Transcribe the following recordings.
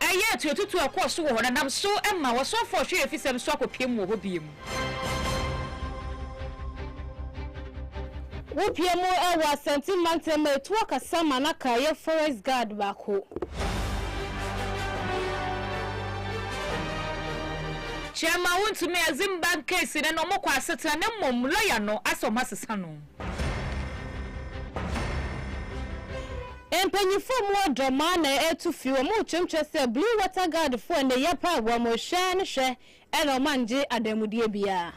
ɛyɛɛ tuatutu a ɛkɔɔ so wɔ hɔ no nam so ma wɔsan faa ɔhwɛyɛfisɛm so akɔpiam wɔ hɔ bio. Wopiaa mu wɔ Asante mantam a etuo kasa ma na ka yɛ forest guard baako. Kyɛmaa wontumi Azimbank case no na wɔkɔ asetena na mmom lɔya no asɛ wɔasesa no. Mpanyinfoɔ mu ɔdɔ mo ara na ɛretu fi, wɔn rekyerɛmkyerɛ sɛ Blue Water Guard foɔ nneyɛ pa a wɔn rehwɛ no hwɛ na wɔn anngye adanmudeɛ biara.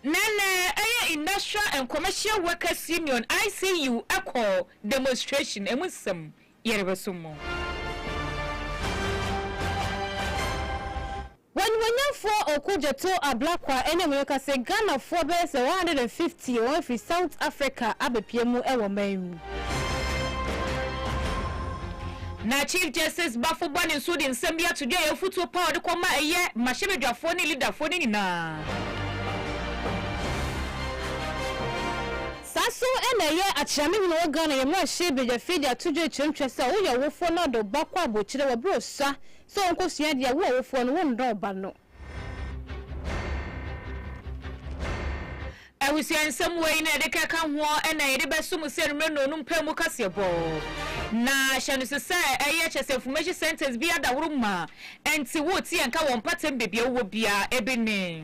Na na ɛyɛ Industrial and Commercial Workers Union, ICU, kɔɔ demonstration, ɛmu nsɛm. Yɛrebɛsom mo. W'animuonyamfoɔ Ɔko Gyɛto Ablakwa ne me reka sɛ Ghanafoɔ bɛyɛ sɛ 150 wɔn afiri South Africa abɛpue mu wɔ man yi mu. Na Chief Justice Bafo Bɔne nso de nsɛm bi ato dwa ɛyɛ afutuo pa a ɔde kɔ ma ɛyɛ mmarahyɛbadwafoɔ ne leaderfoɔ no nyinaa. Saa so na ɛyɛ akyerɛ me hene wɔ Ghana yɛ mmarahyɛ badwafi de ato dwa kyerɛ ntwa sɛ woyɛ ɔwofoɔ na wode wo ba kɔ abokyire wɔ berɛ ɔsua sɛ ɔnkɔsua adeɛ a, wo ɔwofoɔ no wonnɔ wo ba no. Abusua nsɛm wei na yɛde kɛka ho ɛna yɛde bɛso mo sɛ numere nɔɔnum pɛ mu kaseɛbɔ. Na hyɛ no so sɛ ɛyɛ kyɛ sɛ information centers biara daworo mu a ɛnti woreteɛ nka wɔ mpɔtam baabi a wowɔ biara. Ebi ne.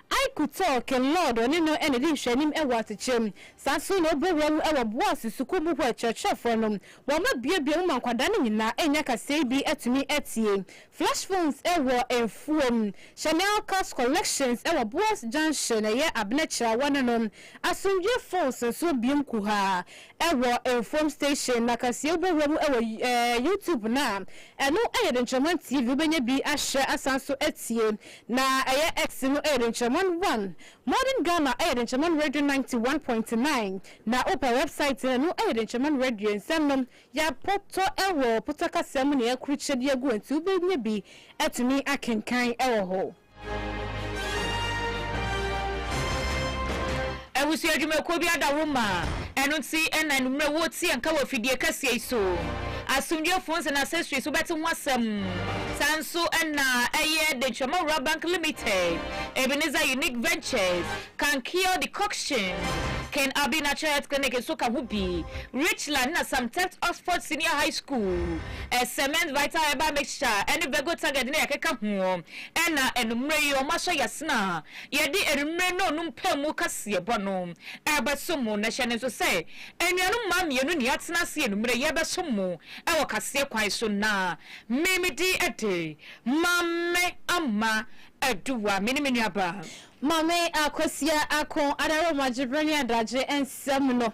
I Kutɔɔ Kinlɔɔd ɔne no na edi nhwɛanim wɔ asekyerɛ mu. Saa nso na obu wɔn mu wɔ Boas Sukuu mu hɔ akyerɛkyerɛfoɔ no. Wɔma buebue mu ma nkwadaa no nyinaa nya kaseɛ bi tumi tie. Flash phones wɔ mfuo mu. Chanel Cars Collections wɔ Boas Junction ɛyɛ Abena Kyirawa no no. Asomdwoeɛ Phones nso biom kuhaa wɔ Mfuom Station. Na kaseɛ wobu wɔn mu wɔ YouTube no a ɛno yɛ Denkyirɛman TV wobɛnya bi ahwɛ asan nso atie. Na ɛyɛ X no ɛyɛ denkyɛman one modern Ghana ɛyɛ denkyɛman radio ninety one point nine na wopɛ wɛbsaet no ɛno ɛyɛ denkyɛman radio nsɛm nom yɛapotɔ ɛwɔ pota kasa mu na yɛakrukyɛ de agu hɔ nti wobɛnya bi atumi akenkan ɛwɔ hɔ. Abusua dwumakuo bi ada wo ma ɛno nti na anummerɛ wuo teɛ nka wɔ fidie kɛseɛ yi so. Asomdwoeɛ phones and accessories wobɛte ho asɛm. Saa nso na ɛyɛ Denkyirama Rural Bank Limited, Ebenezer Unique Ventures, Kankia Decoction, Ken Abbey Natural Health Clinic nso ka ho bi, Richland na Samtect Oxford Senior High School, Cement Vital Herbal Mixture ne Vego Target na yɛkeka ho. Ɛna anummerɛ yi wɔasɔ yasena Yɛde anwummere no no mpaemu kaseɛbɔ no rebɛsom mo, na hyɛ no nso sɛ anuanom mmaa mmienu na yɛatena ase anwummere yi rebɛsom mo wɔ kaseɛ kwan so, na me me din de Maame Ama Aduwa, me ne me nuabaa. Maame Akosua Ako Adaroma Gyebrene Adagye nsɛm no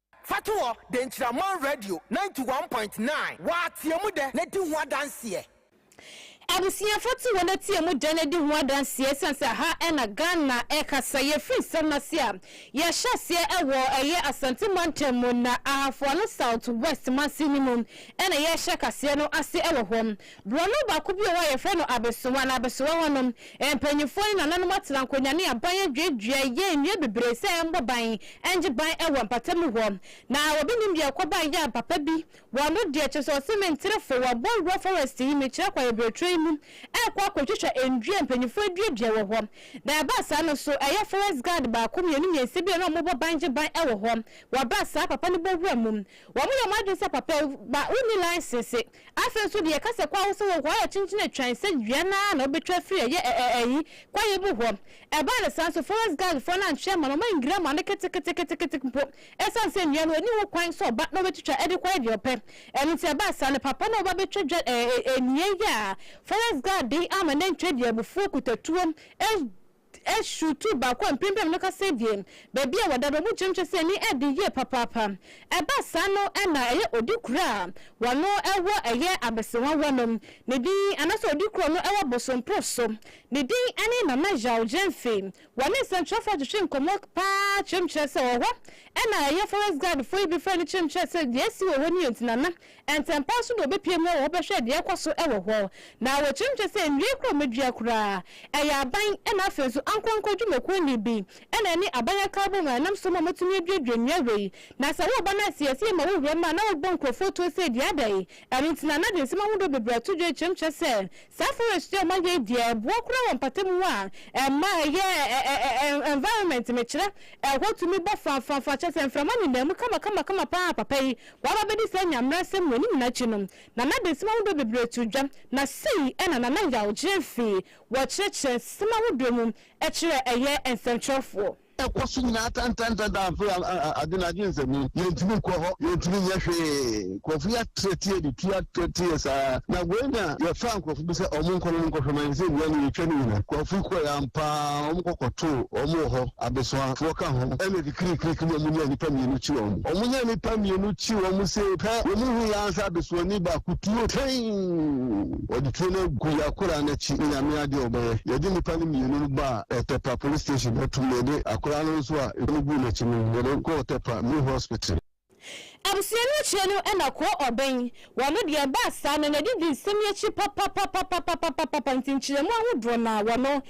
Fatoɔ, Denkyiraman Radio ninety one point nine, Wa teɛ mu dɛ na di ho adanseɛ. Abusua Fatoɔ na teɛ mu dɛ na di ho adanseɛ ɛsiane sɛ ha na Ghana ɛkasa yɛ firi nsɛm no ase a yɛ hyɛ aseɛ ɛwɔ ɛyɛ Asante Mantam mu na Ahafoano South West Mansin no mu ɛna yɛ hyɛ kaseɛ no ase ɛwɔ hɔ Borɔno baako bi wɔ hɔ a yɛfrɛ no abesewa na abesewa hɔ no, mpanyimfoɔ ne nananom atena nkonnwa ne aban aduadua yɛ nnua bebree sɛ ɛmmɔ ban nnye ban wɔ mpatamu hɔ. Na obi nnim deɛ ɛkɔbae yɛ a papa bi wɔ ano deɛ kyerɛ sɛ ɔse menterefo wɔ Bɔnguɔ forest yi mekyerɛ kwan abireturo yi mu ɛrekɔ akɔtwitwa nnua a mpanyimfoɔ aduadua wɔ hɔ na ɛbaa saa no so ɛyɛ forest guard baako mmienu mmiɛnsa bi a na wɔbɔ ban gye ban wɔ hɔ wɔbaa saa papa no bɔ wura mu wɔyɛ wɔn adwene sɛ papa ba wonni license Afei nso deɛ ɛka sɛ kwaeɛ sɛ wɔ kwaeɛ kyenkyen atwan sɛ dua no ara na wobɛtwa afiri ɛyɛ ɛ ɛ ɛyi kwaeɛ bu hɔ. Ɛbaa no saa nso forest guard foɔ no antwe amma no, wɔannwiri amma no keteketeketekete mpo ɛsiane sɛ nnua no ɔnni ho kwan sɛ ɔba na ɔbɛtwitwa ɛde kwaeɛ deɛ ɔpɛ. Ɛno nti ɛbaa saa no papa no a ɔba bɛtwa dwa ɛ ɛ ɛ nnua yi a forest guard de ama no antwa deɛ abufuo kuta tuo ɛ Ɛhyew tuo baako a mprempren no kasa abien, baabi a wɔda bɛbɔ kyerɛmkyerɛ sɛ ani den yiye papaapa. Ɛba saa no na ɛyɛ odikura a wɔano wɔ ɛyɛ abesewa wɔ no ne din anaasɛ odikura a ɔno wɔ bosomporo so. Ne din ne Nana Zhao Zhenfei. Wɔne nsɛnkyerɛwfo atwetwe nkɔmmɔ paa kyerɛmkyerɛ sɛ ɔwɔ hɔ. Ɛnna ɛyɛ forest guard fo yi bi frɛ no kyerɛmkyerɛ sɛ deɛ asi wɔ hɔ no yɛ nti Nana Ntɛmpa ara nso na wɔbɛpue mu wɔ hɔ bɛhwɛ deɛ ɛrekɔ so wɔ hɔ, na wɔkyerɛkyerɛ sɛ nnua koro a wɔadua koraa, ɛyɛ aban na afei nso ankorankoro dwumakuo nne bi na ɛne aban akaw bom a ɛnam so ma wɔatumi aduadua nnua wei. Na sɛ woreba no ase a, ɛsɛ yɛma wo wuram a na wobɔ nkurɔfoɔ tuo sɛ dua dɛn? Ɛno nti na na de nsɛm ahodoɔ bebree ato dwa rekyerɛkyerɛ sɛ saa forest yi a wɔayɛ yi deɛ ɛboa koraa wɔ mpatamu a ɛma ɛyɛ environment, mekyerɛ, ɛhɔ tumi bɔ fafafaa, kyerɛ sɛ mframa nenam mu kamakamakama pa ara, papa yi W'aba bɛdi saa Nyamerasɛm w'anim nyina akyi no, Nana Adesim ahodoɔ bebree too dwa, na sei na Nana Yaw gyeree fii wɔ kyerɛkyerɛ nsɛm ahodoɔ mu kyerɛɛ ɛyɛ nsɛmtwerɛfoɔ. Ɛkɔ so nyinaa tɛntɛntɛn da afei a adwene agye nsɛmuu, yɛntumi nkɔ hɔ, yɛntumi nyɛ hwee, nkurɔfo yɛ atereteɛ de tu atereteɛ saa, na wei na yɛfaa nkurɔfo bi sɛ wɔn nkɔ na wɔn nkɔ hwɛ ma yɛn sɛ nnua no yɛtwa no nyina, nkurɔfo kɔɛ ampaa wɔn kɔ kɔtoo wɔn wɔ hɔ, abesoafoɔ ka ho, ɛna. Kirikiriki na wɔnyaa nnipa mmienu kyi wɔn. Wɔnyaa nnipa mmienu kyi wɔn sei pɛ, wɔhuu yɛn ara sɛ abesoani baako tuo tɛnn. Wɔde tuo no agu yɛn akoraa no akyi. Onyame adeɛ a wɔbɛyɛ. Yɛde nnipa no mmienu no baa Ɔtɛpa Police Station. Wɔtum na yɛde akoraa no nso a ɛtuo no guu n'akyi no, yɛde no kɔɔ Ɔtɛpa Main Hospital. Abusua no akyire no na koo ɔbɛn wɔ no deɛ ɛbaa saa no na didi nsɛm yi akyi papapapapapapapapa nti nkyerɛmu ahodoɔ no ara wɔ no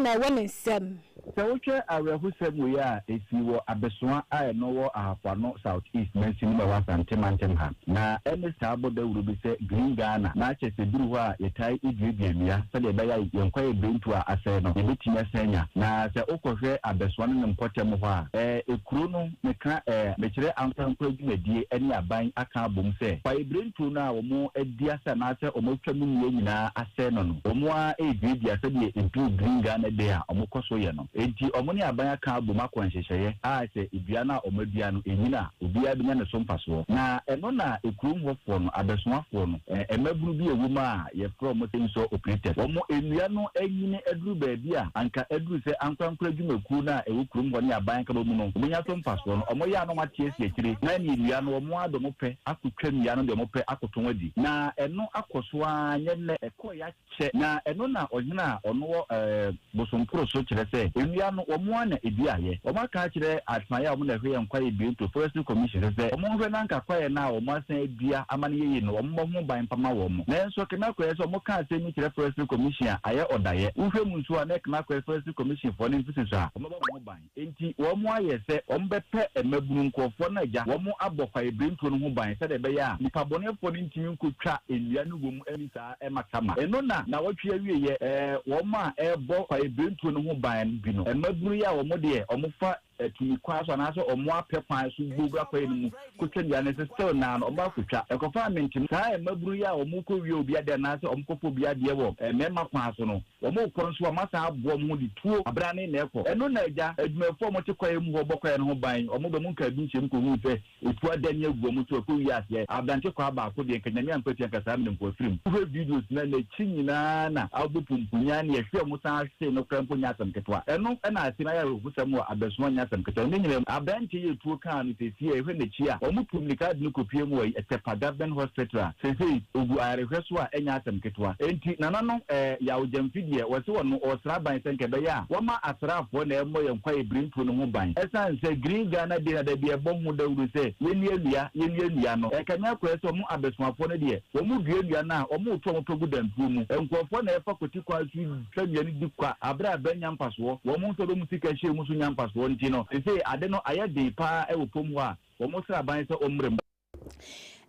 na ɛwɔ ne nsam. Sɛ wohwɛ awerɛhosɛm wei a ɛsii wɔ Abesoa a ɛno wɔ Ahafo-Ano South East Mansin mu a ɛwɔ Asante Mantam ha, na ɛne saa bɔ dawuro bi sɛ Green Ghana, na kyɛ sɛ ɛduru hɔ a yɛtae duadua nnua sɛdeɛ ɛbɛyɛ a yɛn kwaeɛ bɛntu a asɛe no yɛbɛtumi asan anya. Na sɛ wokɔhwɛ Abesoa no ne mpɔtam hɔ a, ɛɛ kuro no. Meka eh, mekyerɛ ankorankoro adwumadie ɛne aban aka abom sɛ fa ebire nturo no a wɔn adi ase anaasɛ wɔn atwa mu nnua nyinaa asɛe no no wɔn ara reduadua sɛdeɛ nturo Green Ghana Day a wɔn kɔ so yɛ no enti wɔn ne aban aka abom akɔ nhyehyɛeɛ a sɛ dua no a wɔn adua no ɛnyini a obiara bɛnya ne so mfasoɔ na ɛno na ekurom hɔfoɔ no, abɛsoafoɔ no, eh, mmabunu bi a ɛwɔ mu a Yɛfrɛ wɔn chainsaw operators. Wɔn nnua no nyini aduru baabi a anka aduru sɛ ankorankoro adwumakuo no a ɛwɔ kurom hɔ ne aban akaba mu no, wɔnya so mfasoɔ no. Wɔyɛ a na wɔate asi akyire na ɛneɛ nnua no wɔn ara de wɔn pɛ akɔtwa nnua no de wɔn pɛ akɔtɔn adi. Na ɛno akɔ so ara nyɛ nnɛ. Ɛkɔeɛ akyɛ. Na ɛno na ɔhene a ɔno wɔ eh. Bosomporo so kyerɛ sɛ ewia no wɔn ara na eduaeɛ. Wɔaka akyerɛ adsaeɛ a wɔn na ɛhwɛ yɛn kwaeɛ Biento Forestry Commission no sɛ wɔn nhwɛ na anka kwaeɛ no a wɔn asan adua ama no yɛye no wɔn mmɔ ho ban mpama wɔn. Nanso Knakwɛɛ sɛ wɔka asɛm yi kyerɛ Forestry Commission a ayɛ ɔdaeɛ. Wohwɛ mu nso a na Knakwɛɛ Forestry Commission foɔ no mfeseso a wɔbɔ wɔn ho ban. Enti wɔayɛ sɛ wɔbɛpɛ mmabunu nkurɔfoɔ no agya, wɔabɔ kwaebirentuo no ho ban sɛdeɛ ɛbɛyɛ a nipabɔneɛfoɔ no ntumi nkɔtwa nnua no wɔ mu nni saa mmata ma ɛno na nnawɔtwe awieɛ. Wɔn a ɛrebɔ kwaebirentuo no ho ban bi no, mmabunu yi a wɔn deɛ wɔfa atumi kwan so anaasɛ wɔn apɛ kwan so bɔ wura kwaeɛ no mu kɔtwa nnua no nso still naa no wɔakɔtwa. Ɛkɔfaa me ntoma saa mmabunu yi a wɔkɔwia obi adeɛ anaasɛ wɔkɔfa obi adeɛ wɔ mmarima kwan so no, Wɔkɔ nso a, wɔasan aboa wɔn ho de tuo abena ne nnɛɛ kɔ. Ɛno na agya adwumayɛfoɔ a wɔte kwaeɛ mu hɔ bɔ kwaeɛ no ho ban. Wɔba mu nka bi nhyiam kɔhunu sɛ etuo adane agu wɔn so ɛkɔ wie aseɛ. Aberante kwaa baako deɛ, nka Nyame ankwatia nka saa mmerɛ mpo afiri mu. Wohwɛ videos no a, n'akyi nyinaa na abɔ pumpunyaa, nea ɛhwɛɛ mu san hwee no koraa mpo nyɛ asɛm ketewa. Ɛno na ase no ayɛ awerɛhoɔ. Kyerɛwnsɛm wɔ abɛsoma nyɛ asɛm ketewa. Ne nyinaa mu, aberantsɛ yi etuo kaa no sesei a, ehwɛ n'ekyir a, wɔtuu mbirika dze no kopuee mu wɔ Etepa Government Hospital a sesei ogu ayarehwɛ so a nnyɛ asɛm ketewa. Ntsi, nananom, eh, Yaw Gyamfi deɛ, wɔse hɔn no wɔsera aban sɛ nka ɛbɛyɛ a wɔma asraafoɔ na ɛmmɔ yɛn kwaeɛbire mpo no ho ban ɛsiane sɛ Green Ghana Day na da bi ɛbɔ ho dawuro sɛ yɛnnua nnua, yɛnnua nnua no. Ɛkame akɔyɛ sɛ wɔn abɛsomafoɔ no deɛ, wɔdua nnua no a, wɔreto wɔn pɛ gu dantuo mu. Nkurɔfoɔ na ɛfa kwati kwan so sɛ nea edi kwa bere a bɛ nnya mfasoɔ, wɔn nsɔdɔ mu sika hyia mu nso nya mfasoɔ nti no, seesei ade no ayɛ den pa ara wɔ pom hɔ a wɔn sra ban sɛ ɔmmrɛ mu.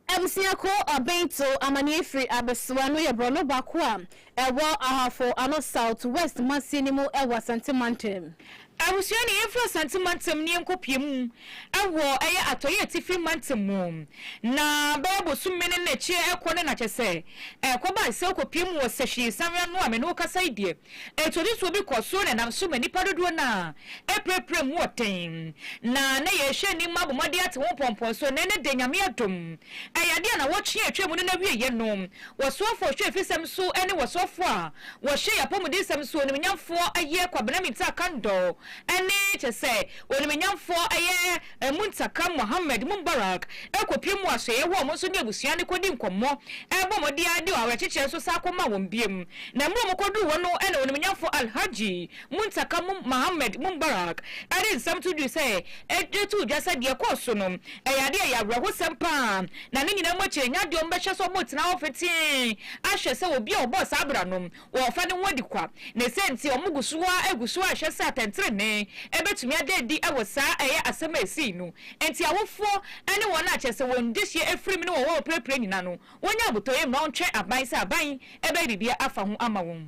Abusua ko Ɔbento amanneɛ firi Abesoa no yɛ borɔno ba ko a ɛwɔ Ahafo Ano South West Masie no mu wɔ Asante Mantam. Abusua no yɛn firi Asante mantam no yɛn kɔ pie mu ɛwɔ ɛyɛ atɔeɛ atifi mantam mu na bɛyɛ bosom mene no akyire ɛkɔ ne nakyɛ sɛ ɛkɔ ba sɛ wokɔ pie mu wɔ sɛhwii sanwe ano a me ne wo kasa yi deɛ ɛtuotutuo bi kɔ soro na ɛnam so ma nnipa dodoɔ no ara ɛpirapira mu wɔ den na na yɛrehwɛ anim abɔ mmɔden ate ho mpɔmpɔn so na ɛnɛ deɛ Nyame adom ɛyɛ adeɛ a nawɔtwe a atwa mu no na wieɛ no wɔsoɔfoɔ hwɛ afisɛm so ɛne wɔsoɔfoɔ a wɔhyɛ yɛn apɔmudensɛm so onimunyamfoɔ yɛ Kwabena Mintah Kandor ne, kyerɛ sɛ, onimunyamfoɔ yɛ Muntaka Mohammed Mumbarak kɔpie mu asoɛeɛ hɔ a wɔn nso ne abusua no kɔdi nkɔmmɔ, bɔ mmɔden ara de awerɛkyekyerɛ nso san kɔmaa wɔn bio. Na mmerɛ a wɔkɔduruu hɔ no na onimunyamfoɔ Alhaji Muntaka Mohammed Mumbarak de nsɛm to dwui sɛ, de too dwa sɛ deɛ ɛkɔɔ so no Ɛyɛ ade a ɛyɛ awerɛhosɛm paa, na ne nyinaa mu akyi no, ɛnyɛ ade a wɔbɛhwɛ sɛ wɔbɛtena hɔ petee ahwɛ sɛ obi a ɔbɔɔ saa bra no, wɔrefa ne ho adi kwa. Ne saa nti, wɔgu so ara gu so ara hwɛ sɛ atɛntrenee betumi ada adi wɔ saa ɛyɛ asɛm a esii no nti. Awofo ne wɔn a kyerɛ sɛ wɔn dehye afirim ne wɔn a wɔpirapira nnyina no, wonyɛ abotɔyam na wɔntwɛn aban sɛ aban bɛyɛ biribi afa ho ama wɔn.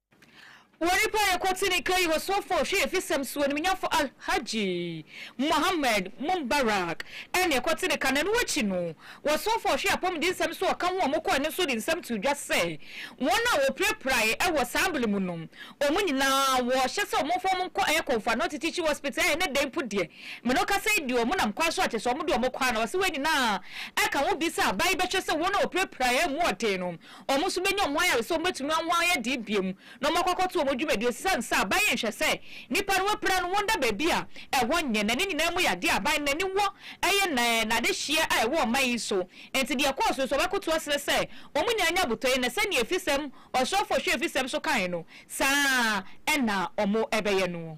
Wɔn paa yɛ kɔte ne kai wɔ Sofo Hwɛyɛfisɛm so animuonyamfo Alhaji Mohammed Mubarak ɛne ɛkɔte ne kan ɛno akyi no wɔ Sofo Hwɛ Apɔmudensɛm so ɔka ho a wɔkɔ ɛno so de nsɛm too dwa sɛ wɔn a wɔpirapirai ɛwɔ saa bere mu no wɔn nyinaa wɔhyɛ sɛ wɔmfa wɔn nkɔ ɛyɛ Kɔmfo Anɔte Teaching Hospital a ɛnɛ da yi mpo deɛ me no kasa yi deɛ wɔn nam kwan so a kyerɛ sɛ wɔde wɔn kɔ a na ɔse wei nyinaa ɛka ho bi sɛ aban yi bɛhwɛ sɛ wɔn a wɔpirapirai ɛmu ɔden no Wɔn nso benya wɔn ayare sɛ wɔbetumi anwɔn ayɛ dee biom na wɔakɔ akɔto wɔn dwumadi. Esiane saa, aban yi nhwɛ sɛ nnipa no apira no wɔn da baabi a ɛhɔ nyɛ, na ne nyinaa mu yɛ adeɛ a aban no n'ani wɔ ɛyɛ na ɛɛ n'adehyeɛ a ɛwɔ ɔman yi so nti deɛ ɛkɔɔ so yi so ɔbɛkoto aserɛ sɛ wɔn nyinaa nya abotɔyɛ na sɛdeɛ afisɛm ɔsrɔfoɔ hwɛ afisɛm so kaeɛ no saa na wɔn ɛbɛyɛ noɔ.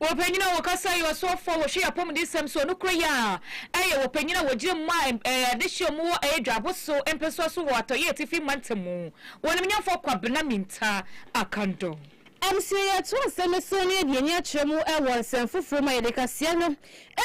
Wɔpanyin a wɔkasa yɛ ɔsɔfo a wɔhwɛ yɛn apɔmudensɛm so. Nokorɛ yɛ a, ɛyɛ wɔpanyin a wɔgyina mu a adehyeɛ mu wɔ Adwabo so mpɛsoa so wɔ Atɔeɛ Atifi Mantam mu, Wɔnimnyamfoɔ Kwabena Mintah Akandor. Amsey ato asɛm no so na yɛde ani akyerɛ mu wɔ nsɛm foforo mu a yɛde kaseɛ no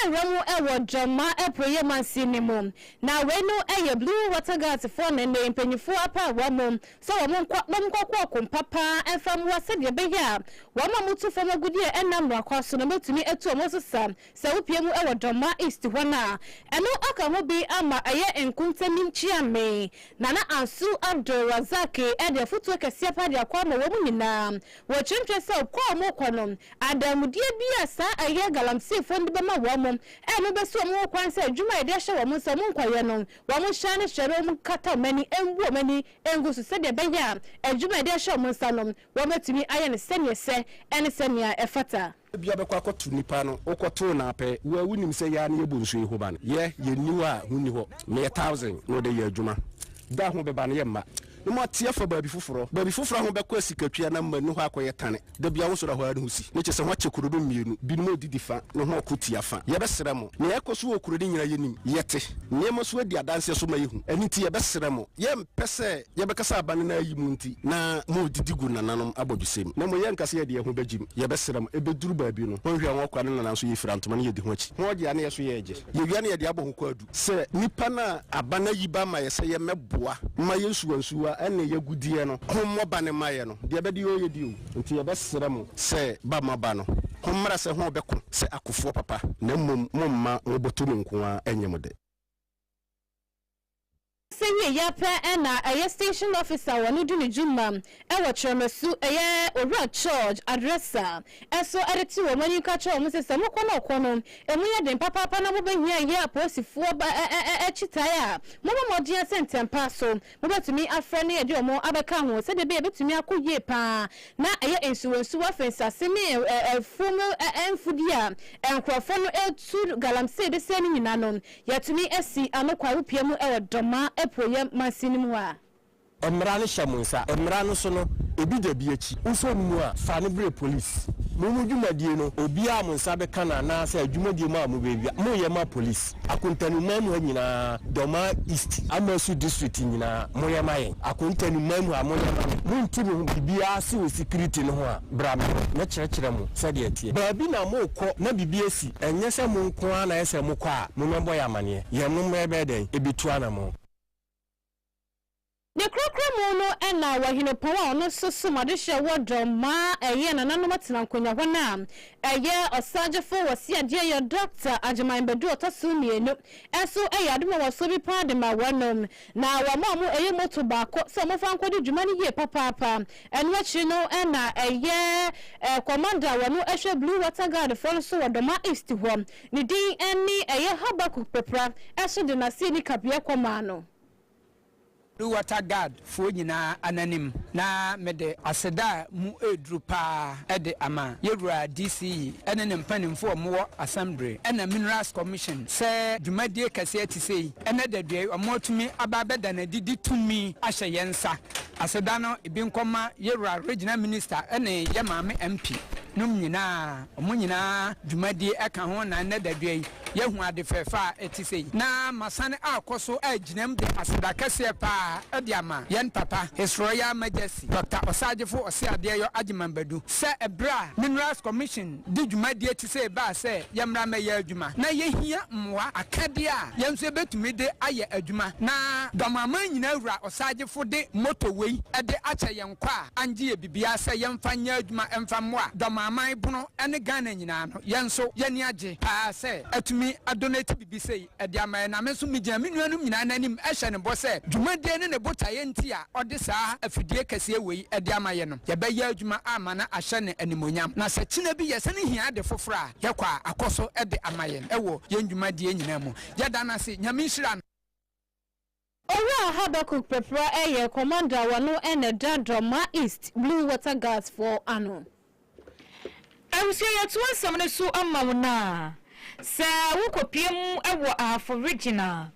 rewura mu wɔ Gyama Apueeɛ Mansin no mu. Na wei no yɛ Blue Water Guards foɔ ne ne mpanyinfoɔ apaawa mu sɛ wɔnkɔ na wɔnkɔko ɔko mpa pa ara mfa mmoa sɛdeɛ ɛbɛyɛ a wɔn a wɔtu fam agudeɛ a ɛnna mmara kwan so no bɛtumi atu wɔn so sa sɛ wopue mu wɔ Dɔmma East hɔ no a ɛno aka ho bi ama ayɛ nkontanim kyia me. Nana Ansu Abdul Razak de afotuo kɛseɛ paa de akɔ ama wɔn nyinaa wɔ kyerɛmkyerɛ sɛ ɔko a wɔrekɔ no adanmudeɛ bi a saa ɛyɛ galamseefoɔ no de bɛma wɔn a ɛno bɛsi wɔn ho kwan sɛ adwuma a yɛde ahyɛ wɔn nsa wɔnkɔyɛ no Wɔnhyɛ ne hyɛberɛ, wɔnkata wɔn ani mmu wɔn ani ngu so sɛdeɛ ɛbɛyɛ a adwuma a wɔde ahyɛ wɔn nsa no, wɔbɛtumi ayɛ no sɛdeɛ ɛsɛ ne sɛdeɛ ɛfata. Ebia bɛkɔ akɔto nipa no wokɔtoo no apɛ wo a wonim sɛ yɛ a na yɛbɔ nsuo yi ho ban yɛ yɛnni hɔ a ho nni hɔ meyɛ thousand na ɔde yɛ adwuma da ho bɛba no yɛ mma no mu ateɛ afa baabi foforɔ baabi foforɔ ho bɛkɔ asikatwia na mma nni hɔ akɔyɛ tane Da biara wosɔre a hɔ ara ne ho si, na kyerɛ sɛ wɔakyɛ kuro no mmienu, binom redidi fa na hɔn ko tia fa. Yɛbɛsrɛ mo, nea ɛrekɔ so wɔ kuro no nyinaa yɛnim, yɛte, nneɛma nso adi adanseɛ so ma yɛhu, ɛno nti yɛbɛsrɛ mo, yɛmpɛ sɛ yɛbɛkasa aba no na ayi mo nti na moredidi gu nananom abɔdwesɛm, na mmom yɛnka sɛ yɛde yɛn ho bɛgyem, yɛbɛsrɛ mo, ɛbɛduru baabi no, hɔnhwɛ hɔn kwa ne nana nso yɛfira ntoma na yɛdi ho akyi, hɔn gye a na yɛ nso yɛregye, yɛwie a na yɛde abɔ ho kwaadu. Sɛ nnipa no a aba no ayi ba ma yɛ sɛ yɛmmɛboa mma yɛn nsuwansuwa ne y'agudeɛ no ho mmɔ ba no mma yɛ no, deɛ ɛbɛde yɛɔ yɛdi o. Nti yɛbɛsrɛ mo sɛ ba mo aba no ho mmara sɛ ho bɛko sɛ akofoɔ papa, na mmom mo mma mo bɔtɔmi nko ara nyɛ mo dɛ. Sɛ wie yɛ pɛ na ɛyɛ station officer a ɔno di ne dwuma wɔ Kyerɛmasu ɛyɛ Owura George Adresa so de to wɔn anim ka kyerɛ wɔn sɛ sɛ mokɔ na ɔkɔ no ɛmu yɛ den papaapa na mobɛhia ayɛ apolisifoɔ kyitae a mommɔ mmɔden sɛ ntɛmpa so mobɛtumi afrɛ ne yɛde wɔn abɛka ho sɛdeɛ ɛbɛyɛ ɛbɛtumi akɔ yie pa ara na ɛyɛ nsuwonsuwa firi nsase ne afuo mu mfudeɛ a nkorɔfoɔ no tu galamsee de sɛe no nyinaa no Yɛtumi si ano kwa wopue mu wɔ Dɔma apueɛ mansin no mu a. Mmara no hyɛ mo nsa. Mmara no so no, ebi da bi akyi. Wosɔ no mu a, fa no brɛ polis. Mo mo dwumadie no, obiara a mo nsa bɛka no anaasɛ adwumadie mu a mobɛwia, moyɛ ma polis. Akontani man mu ha nyinaa, Dɔma East, Amasu District nyinaa, moyɛ ma yɛn. Akontani man mu ha, moyɛ ma me. Monte me ho biribiara se wɔ sikiriti no ho a, bra me hɔ, mɛkyerɛkyerɛ mo sɛdeɛ ɛteɛ. Baabi na morekɔ na biribi asi. Ɛnyɛ sɛ mo nko ara na ayɛ sɛ mokɔ a mo mmɛbɔ yɛn amaneɛ. Yɛn no mmɛ bɛyɛ dɛn ɛbɛtu anamɔn. Ne Kronkron mu no na Wahinupɔn a ɔno nso som adehyeɛ wɔ dɔ ma ɛyɛ nananom atena nkonwa hɔ no a ɛyɛ Ɔsangyefo wɔ Siadeɛ yɛ Dɔkta Agyeman Badu Ɔtɔso mmienu nso yɛ adom a wɔso bi paa de ma wɔnom. Na wɔmaa mo ɛyɛ moto baako sɛ momfa nkɔdi dwuma no yie papaapa. Ɛno akyiri no na ɛyɛ kɔmanda a ɔno hwɛ Blue Water Guard foɔ no so wɔ Doma East hɔ, ne din ne ɛyɛ Habakkuk Popra ɛso de n'aseni kabeɛ kɔmaa no. Blue Water Guard foɔ nyinaa ananim na mede aseda a mu ɛreduru paa de ama Yɛwura DCE ne ne mpanimfoɔ a wɔwɔ Assembly ɛna Minerals Commission sɛ dwumadie kɛseɛ sei. Ɛnnɛ da dua yi, wɔatumi aba abɛda no adi de tumi ahyɛ yɛn nsa. Aseda no bi nkɔma Yewura Regional Minister ne yɛn Maame MP nom nyinaa. Wɔn nyinaa dwumadie ka ho na ɛnnɛ da dua yi, yɛahu ade fɛɛfɛ a ɛte sei. Na masane akɔ so agyinam de aseda kɛseɛ pa ara de ama yɛn papa, His Royal Majesty Doctor Ɔsaagyefo Ɔseadeɛyɔ Agyeman Badu, sɛ ɛberɛ a Minerals Commission de dwumadie te sei baa sɛ yɛmmra mmɛyɛ adwuma. Na yɛhia mmoa, akadeɛ a yɛn nso yɛbɛtumi de ayɛ adwuma. Na Dɔm Aman Nyinaa Wura Ɔsaagyefo de moto wei de akyɛ yɛn kwa a angye yɛ biribiara sɛ yɛmfa nyɛ adwuma mfa mmoa Dɔm Aman Bono ne Ghana nyinaa no, yɛn nso yɛn ani agye pa ara sɛ atumi adonate biribi sei. de ama yɛn, na me nso megyina me nuanom nyinaa no anim hyɛ no bɔ sɛ dwumadie ne ne botaeɛ nti a ɔde saa afidie kɛseɛ wei de ama yɛn no, yɛbɛyɛ adwuma ama no ahyɛ no animuonyam, na sɛ kyena bi yɛsane hia ade foforɔ a, yɛkɔ a, akɔ so de ama yɛn wɔ yɛn dwumadie nyinaa mu. Yɛda no ase. Nyame nhyira no. Owura Habakkuk Prɛprɛ yɛ Kɔmanda a ɔno na ɛda Drama East Blue Water Guards foɔ ano. Abusua yɛto asɛm no so ama wo na sɛ wo kɔpie mu wɔ Ahafo Region a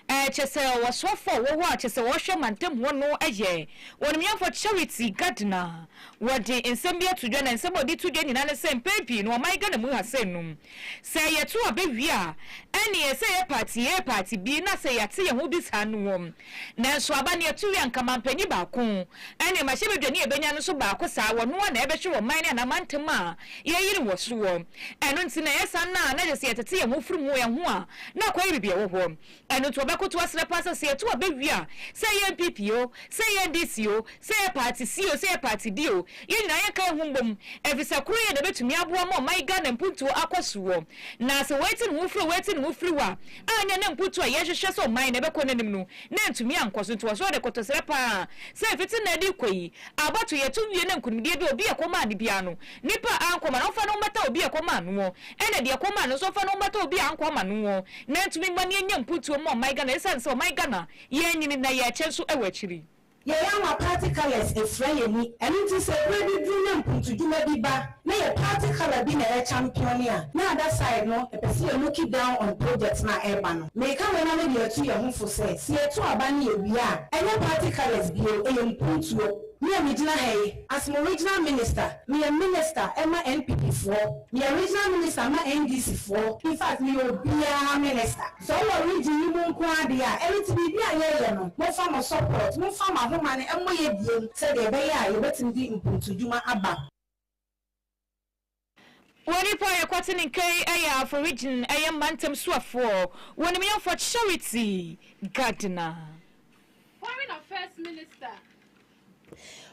kyɛsɛ ɔsoafo a wɔwɔ a kyɛsɛ ɔhwɛ mantam hɔ no yɛ Ɔnimyɛfoɔ Charity Gardner wɔde nsɛm bi ato dwa na nsɛm a ɔde to dwa nyinaa ne sɛ mpɛn pii no ɔman Ghana mu ha sɛ num Sɛ yɛto aba wie a, ɛnneɛ ɛsɛ sɛ yɛpaati yɛyɛ paati bi na sɛ yɛate yɛn ho bi saa no wom. Nanso aba no yɛto wie a, anka mampanyin baako ne mmarahyɛbadwani a yɛbɛnya no nso baako saa, wɔn ara na ɛbɛhwɛ wɔ man ne anaa mantam a yɛyere wɔ soɔ. Ɛno nti na ɛyɛ saa no a, na gye sɛ yɛtete yɛn ho firi mu, ɛho a, na akɔyɛ biribi a ɛwɔ hɔ. Ɛno nti wɔbɛkoto asrɛ paa sɛ, sɛ yɛto aba wie a, sɛ ɛyɛ NPP o, sɛ ɛyɛ NDC o, sɛ ɛyɛ party C o, sɛ ɛyɛ party D o, yɛn nyinaa yɛnka yɛn ho mmom, efisɛ koroyɛ na ɛbɛtumi aboa ma ɔman Ghana mpuntuo akɔ soɔ. Na sɛ wɔati ne ho firi o, wɔati ne ho firi o a, anyɛ na mpuntuo a yɛhwehwɛ sɛ ɔman no ɛbɛkɔ n'anim no, na antumi ankɔ so. Nti wɔsɛ wɔde koto srɛ paa sɛ mfiti nnan de rekɔ yi, abatoyɛ to wie na nkunimdie bi a obi a ɛkɔm maa no biara no, Nipa a ankɔ ma no ɔmfa no mmɛtɔ obi a ɛkɔ maa noɔ, ɛna deɛ ɛkɔ maa no nso ɔmfa no mmɛtɔ obi a ankɔ ama noɔ, na ɛntumi mma no ɛnya mpuntuo mma ɔman Ghana ɛsiane sɛ ɔman Ghana yɛanyini na yɛɛkyɛ nso ɛwɔ akyiri. Yɛyɛ ama party colours ɛfira yɛn ani, ɛno nti sɛ ɛberɛ bi duru na mpuntudwuma bi ba na yɛ party colour bi na ɛyɛ champion a, na other side no ɛpɛ sɛ yɛ looki down on project no a ɛreba no. Meka wei na mede atu yɛn ho fo sɛ, sɛ yɛto aba ne yɛwie a, ɛnyɛ party colours bio, ɛyɛ mpuntuo. Me a megyina ha yi, as mo regional minister, meyɛ minister ma NPP foɔ, meyɛ regional minister ma NDC foɔ, in fact meyɛ obiara minister. Sɛ ɔwɔ region yi mu nko ara deɛ a, ɛno nti biribi a yɛreyɛ no, momfa mo support, momfa mo ahoma no mmɔ yɛ abiem sɛdeɛ ɛbɛyɛ a yɛbɛtumi de mpontudwuma aba. Wɔ nnipa a yɛkwati ne nka yi ɛyɛ afo region ɛyɛ mantam suafoɔ wɔ ne miyɔnfoɔ charity gardiner. Foreign Affairs Minister.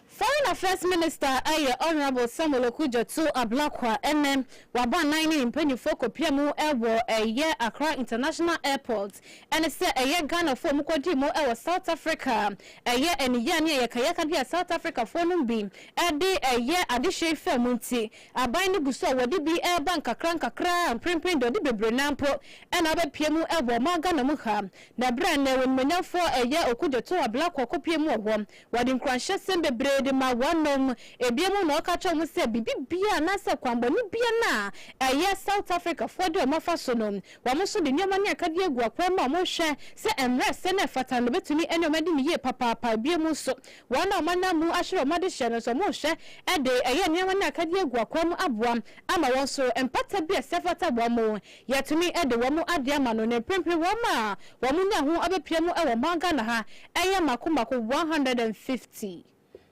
Foreign Affairs Minister ɛyɛ Honourable Samuel Okudzeto Ablakwa ɛnɛ wabɔ anan ne ne mpaninfoɔ kɔpia mu ɛwɔ ɛyɛ Accra International Airport Ɛne sɛ ɛyɛ Ghanafoɔ a wɔkɔdii mu wɔ South Africa. Ɛyɛ aniyea ne ayakayaka bi a South Africafoɔ nom bi de yɛ adehyeɛ yi faa mu nti, aban no gu so a wɔde bi reba nkakra nkakra a mprempren deɛ ɔde bebree no ara mpo na abɛpue mu wɔ ɔman Ghana mu ha. Na berɛ a nnɛ wɔn animuonyamfoɔ ɛyɛ Okudjo Too Ablakwa a ɔkɔpue mu wɔ hɔ, wɔde nkuranhyɛsɛm bebree de maa wɔnom. Ebia mu na ɔka kyerɛɛ wɔn sɛ biribi biara anaasɛ kwanbɔne biara no a ɛyɛ South Africafoɔ de wɔn afa so no, Wɔn nso de nneɛma ne akadeɛ agu akwan mu a wɔhwɛ sɛ ɛmmrɛ sɛnea ɛfata no bɛtumi ne wɔn adi no yie papaapa. Bio mu nso, wɔn a wɔanam mu ahwere wɔn adehyeɛ no nso, wɔhwɛ de ɛyɛ nneɛma ne akadeɛ agu akwan mu aboa ama wɔn nso mpata bi a ɛsɛ fata wɔn. Yɛatumi de wɔn adeɛ ama no, na mprempren wɔn a wɔnya ho abɛpira mu wɔ ɔman Ghana ha yɛ mmaako mmaako one hundred and fifty.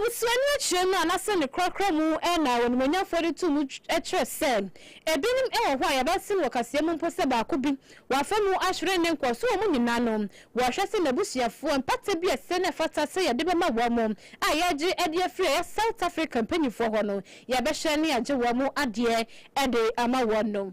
Abusua no akyerɛ mu anasɛ ne korakora mu na Onimuonyamfoɔ de too mu kyerɛ sɛ ebinom wɔ hɔ a yɛbɛsen wɔ kaseɛ mu mpo sɛ baako bi wɔ afa mu ahwere ne nkɔso wɔ mu nyinaa no wɔhwɛ sɛ n'abusuafoɔ mpata biasɛ na ɛfata sɛ yɛde bɛma wɔn mo a yɛagye adi afiri ɛyɛ South Africa mpaninfoɔ hɔ no yɛbɛhyɛ ne agye wɔn mo adeɛ de ama wɔn no.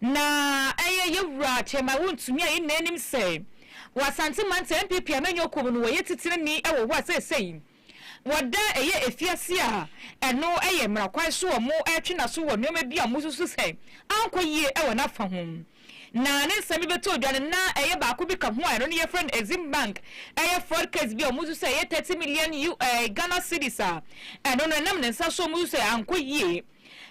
Na ɛyɛ yɛ wura Kyɛma Wontumi a yɛn nyinaa nim sɛ wɔ Asante Mantam NPP amanyɔkuo no wɔyɛ titirani wɔ hɔ a seesei wɔda ɛyɛ afiase a ɛno yɛ mmara kwan so a wɔretwe n'aso wɔ nnoɔma bi a wɔsusu sɛ ankɔ yie wɔ n'afa ho. Na ne nsɛm bi bɛtɔɔ dwa no na ɛyɛ baako bi ka ho a ɛno no yɛfrɛ no Exim Bank ɛyɛ fraud case bi a wɔsusu sɛ ɛyɛ thirty million Ghana cedis a ɛno no ɛnam ne nsa so a wɔsusu sɛ ankɔ yie.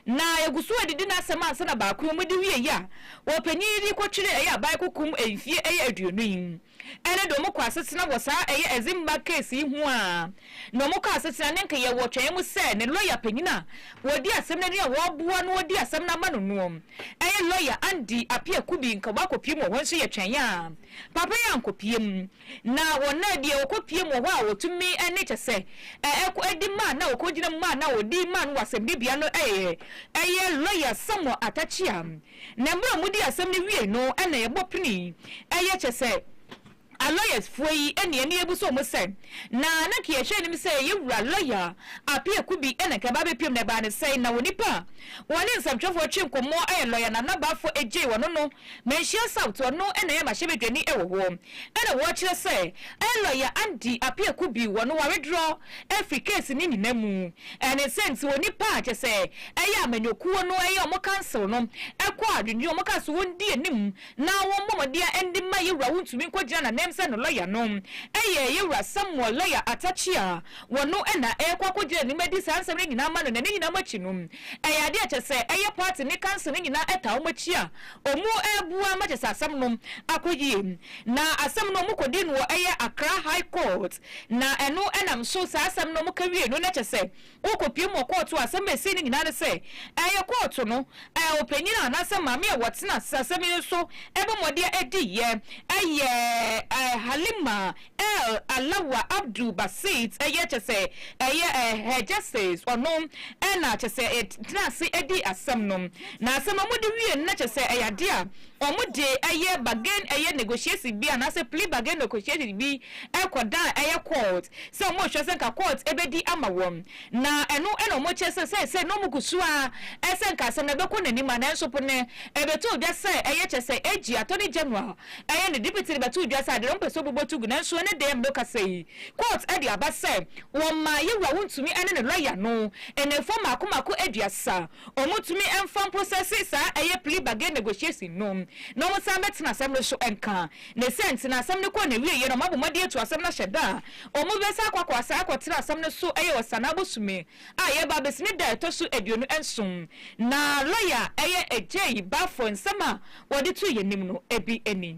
Na yɛgu so redidi n'asɛm ansa na baako mu de wie yi a, ɔpanyin yi de kɔtwere ɛyɛ aban koko mu mfie ɛyɛ aduonu yi. Ɛno de wɔkɔ asetena wɔ saa ɛyɛ Ezimbag case yi ho aa na wɔkɔ asetena ne nka yɛwɔ twɛn mu sɛ ne lɔya panyin a ɔdi asɛm no anim a ɔreboa no ɔdi asɛm no ama no noɔ ɛyɛ lɔya Andy Appiah Kubi nka wakɔ pie mu wɔ hɔ nso yɛtwɛn aa papa yi ankɔ pie mu. Na wɔn a deɛ wɔkɔ pie mu wɔ hɔ a wɔtumi ne kyɛ sɛ ɛkɔ adi ma na wɔkɔ gyina mu ma na wɔdi ma no wɔ asɛmdi bea no yɛ ɛyɛ lɔya Samuel Atakyea. Na mmerɛ a wɔdi asɛm no wiei no na yɛbɔ pini ɛyɛ kyɛ sɛ alɔyas foɔ yi ne ani abu so wɔn sɛ na na nka yɛhwɛ anim sɛ yɛ wura lɔya Apeh Akubi na nka ɛbaa bɛpiem na ɛbaa ne sɛn na onipa a wɔne nsɛmtwerɛfoɔ twe nkɔmmɔ ɛyɛ lɔya Nana Bafo Adjei wɔno no Manhyia South, ɔno na ɛyɛ m'ahyɛbadwani wɔ hɔ. Ɛna wɔkyerɛ sɛ ɛyɛ lɔya Andy Apiaku bi wɔ no ware dorɔ afiri case no nyina mu. Ɛne sɛ nti onipa a kyɛsɛ ɛyɛ amanyɔkuo no ɛyɛ ɔmo council no ɛkɔ a dwendwen ɔmo kaa so wɔn di anim na wɔn bɔ mɔdeɛ ɛnde ma yɛwura wo ntumi nkɔ gyina nanam sɛ no lɔya no ɛyɛ yɛwura Samuel lɔya Atakyea wɔ no ɛna ɛkɔ akɔ gyina anim ɛdi saa nsɛm no nyina ama no na ne nyina mu akyi no Ɛyɛ adeɛ a kyɛsɛ ɛyɛ party ne council no nyinaa ɛtaa wɔn akyi a wɔn ɛɛboa ma kyɛsɛ asɛm no akɔ yie. Na asɛm no wɔn kɔdii no wɔ ɛyɛ Accra High Court na ɛno ɛnam so saa asɛm no wɔn kɛwiee no na kyɛsɛ wo kɔpiem wɔ court hɔ. Asɛm a ɛsii no nyinaa ne sɛ ɛyɛ court no ɔpanyin anaasɛ maame a wɔtena asɛm yi so ɛbɔ mmɔdeɛ ɛdiiɛ ɛyɛ Halima L Alawa Abdul Basit ɛyɛ kyɛ sɛ ɛyɛ Hegesis ɔno na kyɛ sɛ tenaa ase dii asɛm no na asɛm a wɔde wie no na kyɛ sɛ ɛyɛ adeɛ a wɔde ɛyɛ bargain ɛyɛ negotiation bi anaa sɛ plea bargain negotiation bi kɔ dan ɛyɛ court sɛ wɔrehwɛ sɛ nka court bɛdi ama wɔn na ɛno na wɔkyerɛ sɛ sɛsɛ na wɔgu so ara sɛ nka asɛm no bɛkɔ n'anim a nanso po no ɛbɛtoo dwa sɛ ɛyɛ kyɛ sɛ AG Attorney General Ɛyɛ ne dipiti de bɛtoo dwa sɛ ade a ɔmpɛ sɛ ɔbobɔ tu gu ne nsoɔ ne deɛm no kasa yi. Kɔɔt de aba sɛ wɔmmaa Yewura Wontumi ne ne lɔya no nnamfoɔ mmaako mmaako aduasa. Wɔntumi mfa mprosɛse saa ɛyɛ plea bargain negotiation no na wɔsan mmɛtena asɛm no so nka. Ne sɛ nti na asɛm no kɔɔ n'awieɛ na wɔabɔ mmɔden atu asɛm no ahyɛ da a wɔbɛsan akɔ akɔ asan akɔtena asɛm no so ɛyɛ wɔ Sanaa bosome a yɛreba abesi ne da a ɛtɔ so aduonu nson, na lɔya a ɛyɛ Ajayi Baffour nsɛm a wɔde too yɛn anim no bi ni.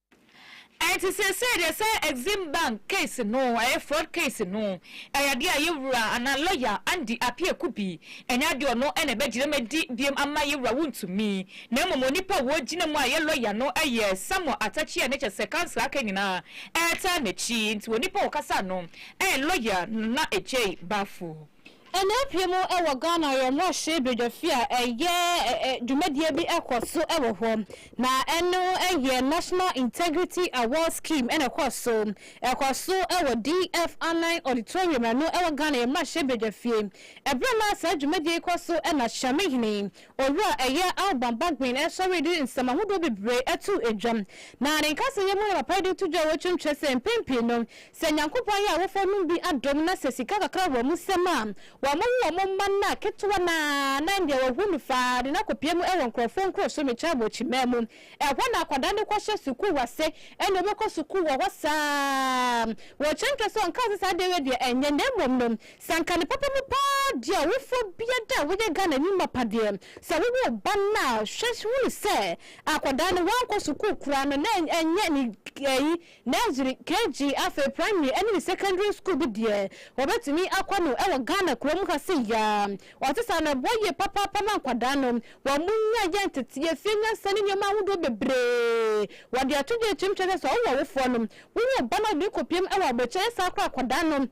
Ɛnti seesei deɛ sɛ Exim Bank case no ɛyɛ fraud case no, ɛyɛ adeɛ a yɛwura anaa lɔya Andy Appiah Akubi, ɛnyɛ adeɛ a ɔno na ɛbɛgyina mu adi biom ama yɛwura wontumi, na mmom onipa a ɔgyina mu a ɛyɛ lɔya no ɛyɛ Samuel Atakyea na kyerɛ sɛ council aka nyinaa ɛretaa n'akyi, nti onipa a ɔkasa no ɛyɛ lɔya Nana Agyei Baffour. Ɛnnɛ pii mu wɔ Ghana yɛ mmɔhye badwafi a ɛyɛ dwumadie bi kɔ so wɔ hɔ na ɛno yɛ National Integrity Award Scheme ɛna ɛkɔ so ɛkɔ so wɔ DF Anan Auditorium ɛno wɔ Ghana yɛ mmɔhye badwafie ɛberɛ na saa dwumadie yi kɔ so ɛna Hyɛme Hene Owura ɛyɛ Alban Bagbin ɛsɔre de nsɛm ahodoɔ bebree ɛto dwa na ne nkasa yɛ mu na papa yi de to dwa wɔ twam kyerɛ sɛ mpɛn pii no Sɛ Nyankopɔn yɛ awofo nom bi adom na sɛ sika kakra wɔ wɔn nsam a, wɔn wo wɔn mma no a ketewa no ara na ɛndeɛ wɔhu no faa de no akɔpue mu wɔ nkorɔfoɔ nkuro so mekyɛ abɔkyimaa mu. Ɛhɔ na akwadaa no kɔhyɛ sukuu ase ɛna ɔbɛkɔ sukuu wɔ hɔ saa. Wɔkyɛnkyɛ sɛ ɔnkaa sɛ saa adeɛ wei deɛ ɛnyɛ na mmom no sɛ anka ne papa mu paa deɛ ɔwofoɔ biara da a woyɛ Ghanani mapa deɛ sɛ wowo wo ba no a hwɛ hunu sɛ akwadaa no wankɔ sukuu koraa no na ɛnyɛ ne Nursery, KG, afei Primary ɛne ne Secondary School bi deɛ wɔbɛtumi akɔ no wɔ Ghana kurom ha sei yaa. Ɔte saa no ɛboa yie papaapa ma nkwadaa no wɔn nya yɛ nteteɛ, fie nyansa ne nneɛma ahodoɔ bebree. Wɔde ato dwa akyiri mu kyerɛ sɛ sɛ wowɔ awofoɔ no, wowo wo ba na wode no kɔ piem wɔ abɔkyire ɛyɛ saa koraa akwadaa no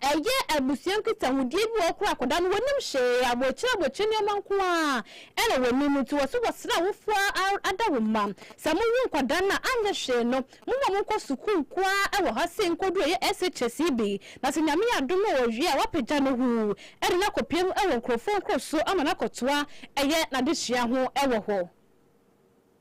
Ɛyɛ abusua nkitahodie bi a wɔkora akwadaa no wɔnim hwee, aboakyire aboakyire nneɛma nko ara na wɔnim nti wɔ se wɔsrɛ awofoɔ a ada wo mma sɛ mo wo nkwadaa no a anyɛ hwee no mo ma mo nkɔ sukuu nko ara wɔ ha sei nkɔduru ɛyɛ SHS yi bi na sɛ Nyame adom na ɔwie a wapagya no huu ɛde no akɔpue mu wɔ nkorɔfoɔ nkuro so ama no akɔtoa ɛyɛ n'adesua ho wɔ hɔ.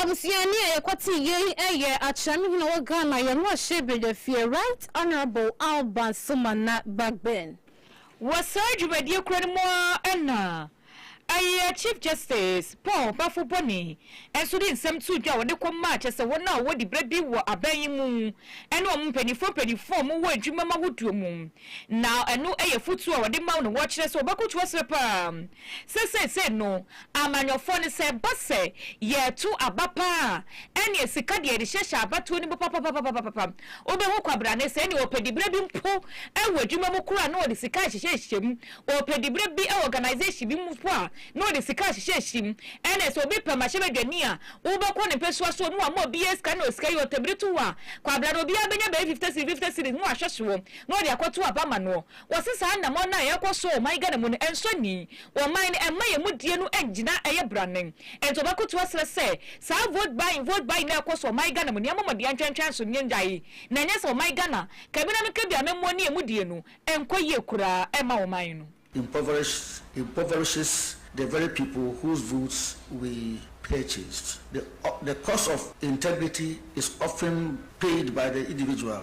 Abusuani a yɛkɔtee yei yɛ Akyerɛm Hene wɔ Ghana, yɛn mmarahyɛ badwafie, Right Honourable Alba Somana Bagbin. Wɔ saa dwumadie korɔ no mu ara na ɛyɛ Chief Justice Paul Bafo Boni nso de nsɛm too dwa a ɔde kɔmaa kyerɛ sɛ wɔn a wɔwɔ diberɛ bi wɔ aban yi mu ne wɔn mpanimfoɔ mpanimfoɔ a wɔwɔ adwumam ahodoɔ mu na ɛno yɛ afotuo a ɔde ma wɔn na wɔkyerɛ sɛ wɔbɛkoto aserɛ pa ara sɛ seesei no Amanyɔfoɔ no sɛ ɛba sɛ yɛreto aba pa ara a, ɛnneɛ sika deɛ yɛde hyehyɛ abatoɔ no mu papapapapapa. Wobɛhu kwabrane sɛ ɛnneɛ ɔpɛ diberɛ bi mpo wɔ adwuma mu koraa a, na ɔde sika rehyehyɛhyehyɛ mu. Ɔpɛ diberɛ bi wɔ organisation bi mu mpo a, na ɔde sika rehyehyɛhyehyɛ mu. Ɛnneɛ sɛ obi pɛ mmarahyɛbadwani a, wobɛkɔ ne mpasua so na wama obiara sika na sika yi ɔtɛ bere to hɔ a, kwabrane obiara bɛnya bɛyɛ fifty cedis fifty cedis na wahwɛ soɔ na ɔde akɔto aba ama noɔ. Wɔse saa nnamɔn no a ɛrekɔ so wɔ ɔman Ghana mu no ɛnsɔ ani wɔ ɔman no ɛmma yɛn mu die no ɛngyina ɛyɛ branen ɛnti wɔbɛkoto aserɛ sɛ saa vote buying vote buying no a ɛrekɔ so wɔ ɔman Ghana mu no yɛn mɔmɔden yɛn ntwɛntwɛn so no yɛn gyae na ɛnyɛ sɛ ɔman Ghana kabina no kabi amammuo ne ɛmu die no ɛnkɔ yie koraa ɛmma ɔman no. Impoverished impoverishes the very people whose votes we purchased. The the cost of integrity is often paid by the individual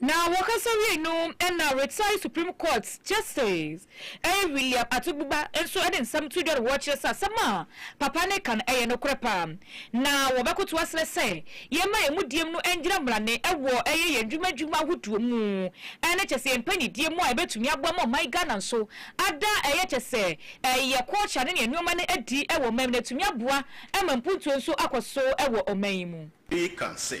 Na wɔkasa wiei no na retired Supreme Court Justice Ey William Atogbuba nso de nsɛm too dwa na wɔkyerɛ sɛ asɛm a papa no reka no yɛ nokorɛ paa. Na wɔbɛkoto asrɛ sɛ yɛmma yɛn mudiem no ngyina mmarane wɔ yɛ yɛn dwuma dwuma ahodoɔ mu ne kyɛ sɛ yɛn mpanyindie mu a ɛbɛtumi aboa ma ɔman Ghana nso ada yɛ kyɛ sɛ yɛ culture ne yɛn nnoɔma no adi wɔ ɔman mu na atumi aboa ma mpuntuo nso akɔ so wɔ ɔman yi mu. Ey ka sɛ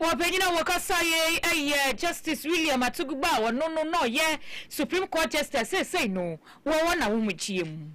Ɔpanyin a wɔkasae yi yɛ Justice William Atogba a ɔno no na ɔyɛ Supreme Court Justice seesei no wɔ wɔn ahomegyeɛ mu.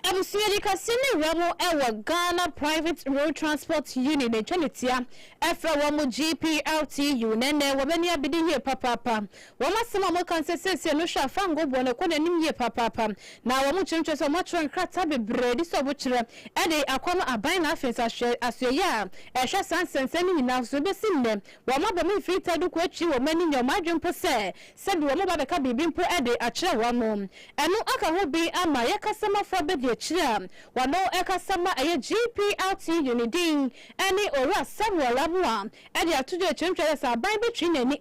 Abusua di kɛseɛ ne werɛ ho wɔ Ghana Private Road Transport Union na ɛtwa no tia frɛ wɔn GPRTU na ɛnnɛ wɔn ani abede yie papaapa Wɔn asɛm a wɔka no sɛ seesei no hwɛ a fa ngo boɔ no ɛkɔ n'anim yie papaapa na wɔn kyerɛkyerɛ sɛ wɔatwerɛ nkrataa bebree de sɛ wɔkyerɛ ɛde akɔ no aban na afei nso ahwɛ asoɛyɛ a ɛhwɛ saa nsɛnsɛm no nyinaa so ɛbɛsi nnɛ wɔn aba mu mfiri ta duku akyiri wɔn ani nyɛ wɔn adwene mpo sɛ sɛbi wɔn ba bɛka biribi mpo ɛde akyerɛ wɔn ano ɛno aka ho bin ama yɛ kasamafo abɛdi akyiri a wɔno ɛkasa ma ɛyɛ GPRTU ne din ɛne Owura Samuel Amoah ɛde ato dwa ɛkyerɛkyerɛ sɛ aban bɛtwi n'ani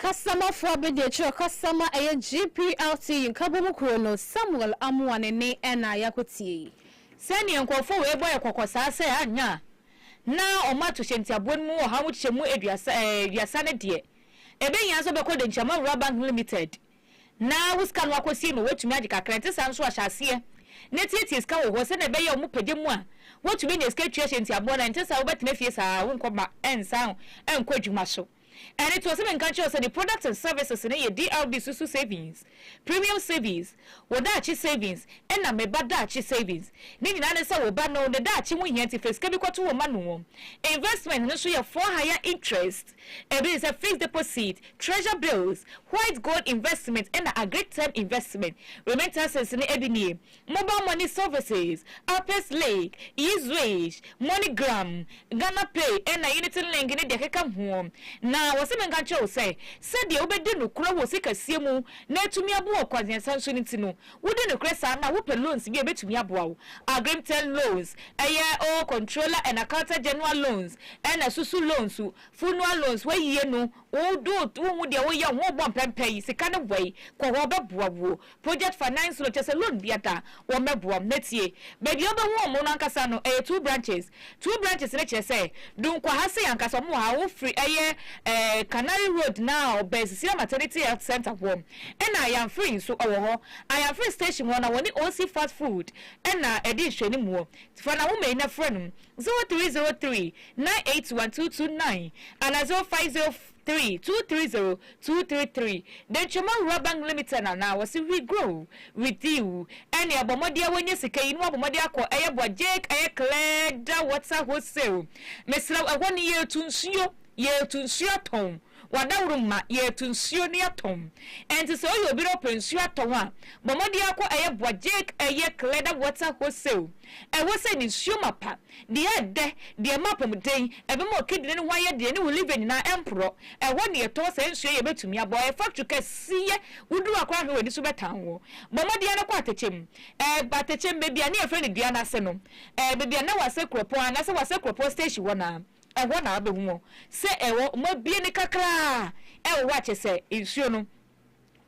Kasamafo abadiakyiri ɔkasa ma ɛyɛ GPLTU nkabom kurow no, Samuel Amoah ne nne na a yɛakɔ tie yi. Sɛnea nkurɔfo wei bɔ yɛn kɔkɔ saa sɛ anyɛ a na wɔn ato hyɛ ntiaboa no mu ɔha mu kyɛ mu aduasa aduasa no deɛ, ɛbɛhia sɛ wobɛkɔ Denkyi Amawura Bank Limited na wo sika no akɔsie ma woatumi agye kakra. Ɛnte saa nso a, hyɛ aseɛ na tietie sika wɔ hɔ sɛdeɛ ɛbɛyɛ a wɔn pagya mu a woatumi anya sika atua hyɛ ntiaboɔ no. Ɛnte saa a, wobɛtena fie saa ara, wonkɔ ba, ɛnsan nkɔ adwuma so. Ɛde toɔ sɛ menka nkyerɛ wo sɛ ne products and services no yɛ DRB Susu Savings, Premium Savings, Wo Daakye Savings, ɛna Me Ba Daakye Savings. Ne nyinaa ne sɛ wo ba no ne daakye ho hia nti fa sika bi kɔto hɔ ma no. Investment no nso yɛ for higher interest. Ebi sɛ fixed deposit, treasure bills, white gold investment ɛna agric term investment. Remittances no ebi nie, Mobile money services, Apes Link, eZwitch, MoneyGram, Ghana Pay ɛna Unity Link ne deɛ ɛkeka hoɔ. Na wɔse menka nkyerɛ wo sɛ, sɛdeɛ wobɛdi nokorɛ wɔ sikasie mu na atumi aboa wo kwantiasan so no nti no, Wodi nokorɛ saa na wopɛ loans bi a ɛbɛtumi aboa wo, Agrimtel loans, ɛyɛ oo Controller and Accountant General loans, ɛna susu loans, Funua loans, wayie no, wo do wohu deɛ woyɛ ho rebɔ mpɛmpɛ yi, sika no wɔ yi, kɔ hɔ ɔbɛboa wuo. Project Finance loan, kyerɛ sɛ loan biara wɔmmɛboa wo, na tie, baabi a wobɛhu wɔn no ankasa no ɛyɛ two branches, Two branches no kyerɛ sɛ Dunkwaha sei ankasa ɔmo wɔ ha wofri ɛyɛ ɛɛ Canary road na ɔbɛn Sisira maternity health center hɔ ɛna Ayanfiri nso ɔwɔ hɔ Ayanfiri station hɔ na wɔne Osi fast food ɛna ɛdi nhwɛnimuɔ fa Nawoma yi na frɛ nom zero three zero three nine eight one two two nine ana zero five zero Three two three zero two three three Dentwama Rural Bank Limited na na wɔse we grow with you ɛne ɛbɔ mmɔden a wɔnya sika yi na wɔabɔ mmɔden akɔ ɛyɛ boa Jake ɛyɛ Clearda Water Wholesale mesrɛ wo ɛhɔ no yɛtu nsuo yɛtu nsuo atɔn wadaworo mma yɛtu nsuo no yɛtɔn ɛnti sɛ woyɛ obi na wopɛ nsuo atɔn a bɔ mmɔden akɔ ɛyɛ boa Jake ɛyɛ Clearda Water Wholesale ɛhɔ sɛ ne nsuo mapa Deɛ ɛdɛ, deɛ ɛma apɔmuden, ɛbɛma ɔkɛdini no ho ayɛ den ne wo liver nyinaa ɛmporɔ. Ɛhɔ na yɛtɔn saa nsuo yi a ɛbɛtumi abɔ ɛyɛ factory kɛseɛ. Woduru hɔ koraa ahwɛ w'ani so bɛtan wo. Bɔ mmɔden ara kɔ atɛkyɛ mu. Ɛɛ atɛkyɛ mu baabi a ne yɛfrɛ no dua no ase no, ɛɛ baabi a na wɔasɛ kuropɔn anaasɛ wɔasɛ kuropɔn station hɔ no ara. Ɛhɔ na wobɛhu wɔn sɛ ɛwɔ wɔabue no kakra a ɛwɔ hɔ a kyerɛ sɛ nsuo no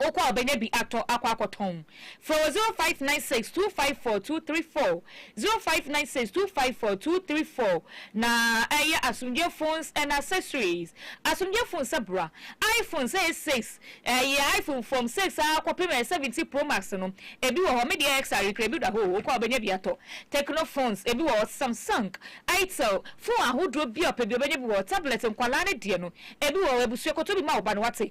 Okɔ a ɔbɛnya bi atɔ akɔ akɔtɔn. Frɛ wɔ 0596 254 234, 0596 254 234, na ɛyɛ Asomdwoeɛ Phones and Accessories. Asomdwoeɛ Phones abura. IPhones ɛyɛ 6, ɛyɛ IPhone from 6 ara kɔpem ɛyɛ 17 Pro Max no, ebi wɔ hɔ, me deɛ XR kura bi da hɔ o, okɔ a ɔbɛnya bi atɔ. Tecno Phones, ebi wɔ hɔ, Samsung, Itel, phone ahodoɔ bi a ɔpɛ bi ɔbɛnya bi wɔ hɔ, Tablet nkwadaa no deɛ no, ebi wɔ hɔ, abusua kɔtɔ bi ma wo ba na wate,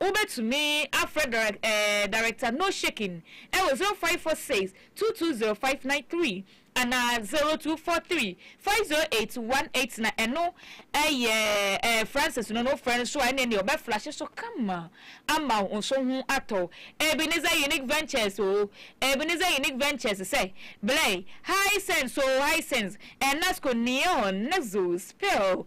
Wobɛtumi afrɛ direct ɛɛ director no shaking ɛwɔ zero five four six two two zero five nine three anaa zero two four three five zero eight one eight na ɛno ɛyɛ ɛɛ Francis no na wofrɛ no so a ɛneɛ neɛ ɔbɛ flashe so kama ama wo nso ho atɔ wo Ebenezer Unique Ventures oo Ebenezer Unique Ventures sɛ blɛ Hisense oo Hisense Enasco Neon Nexus Pearl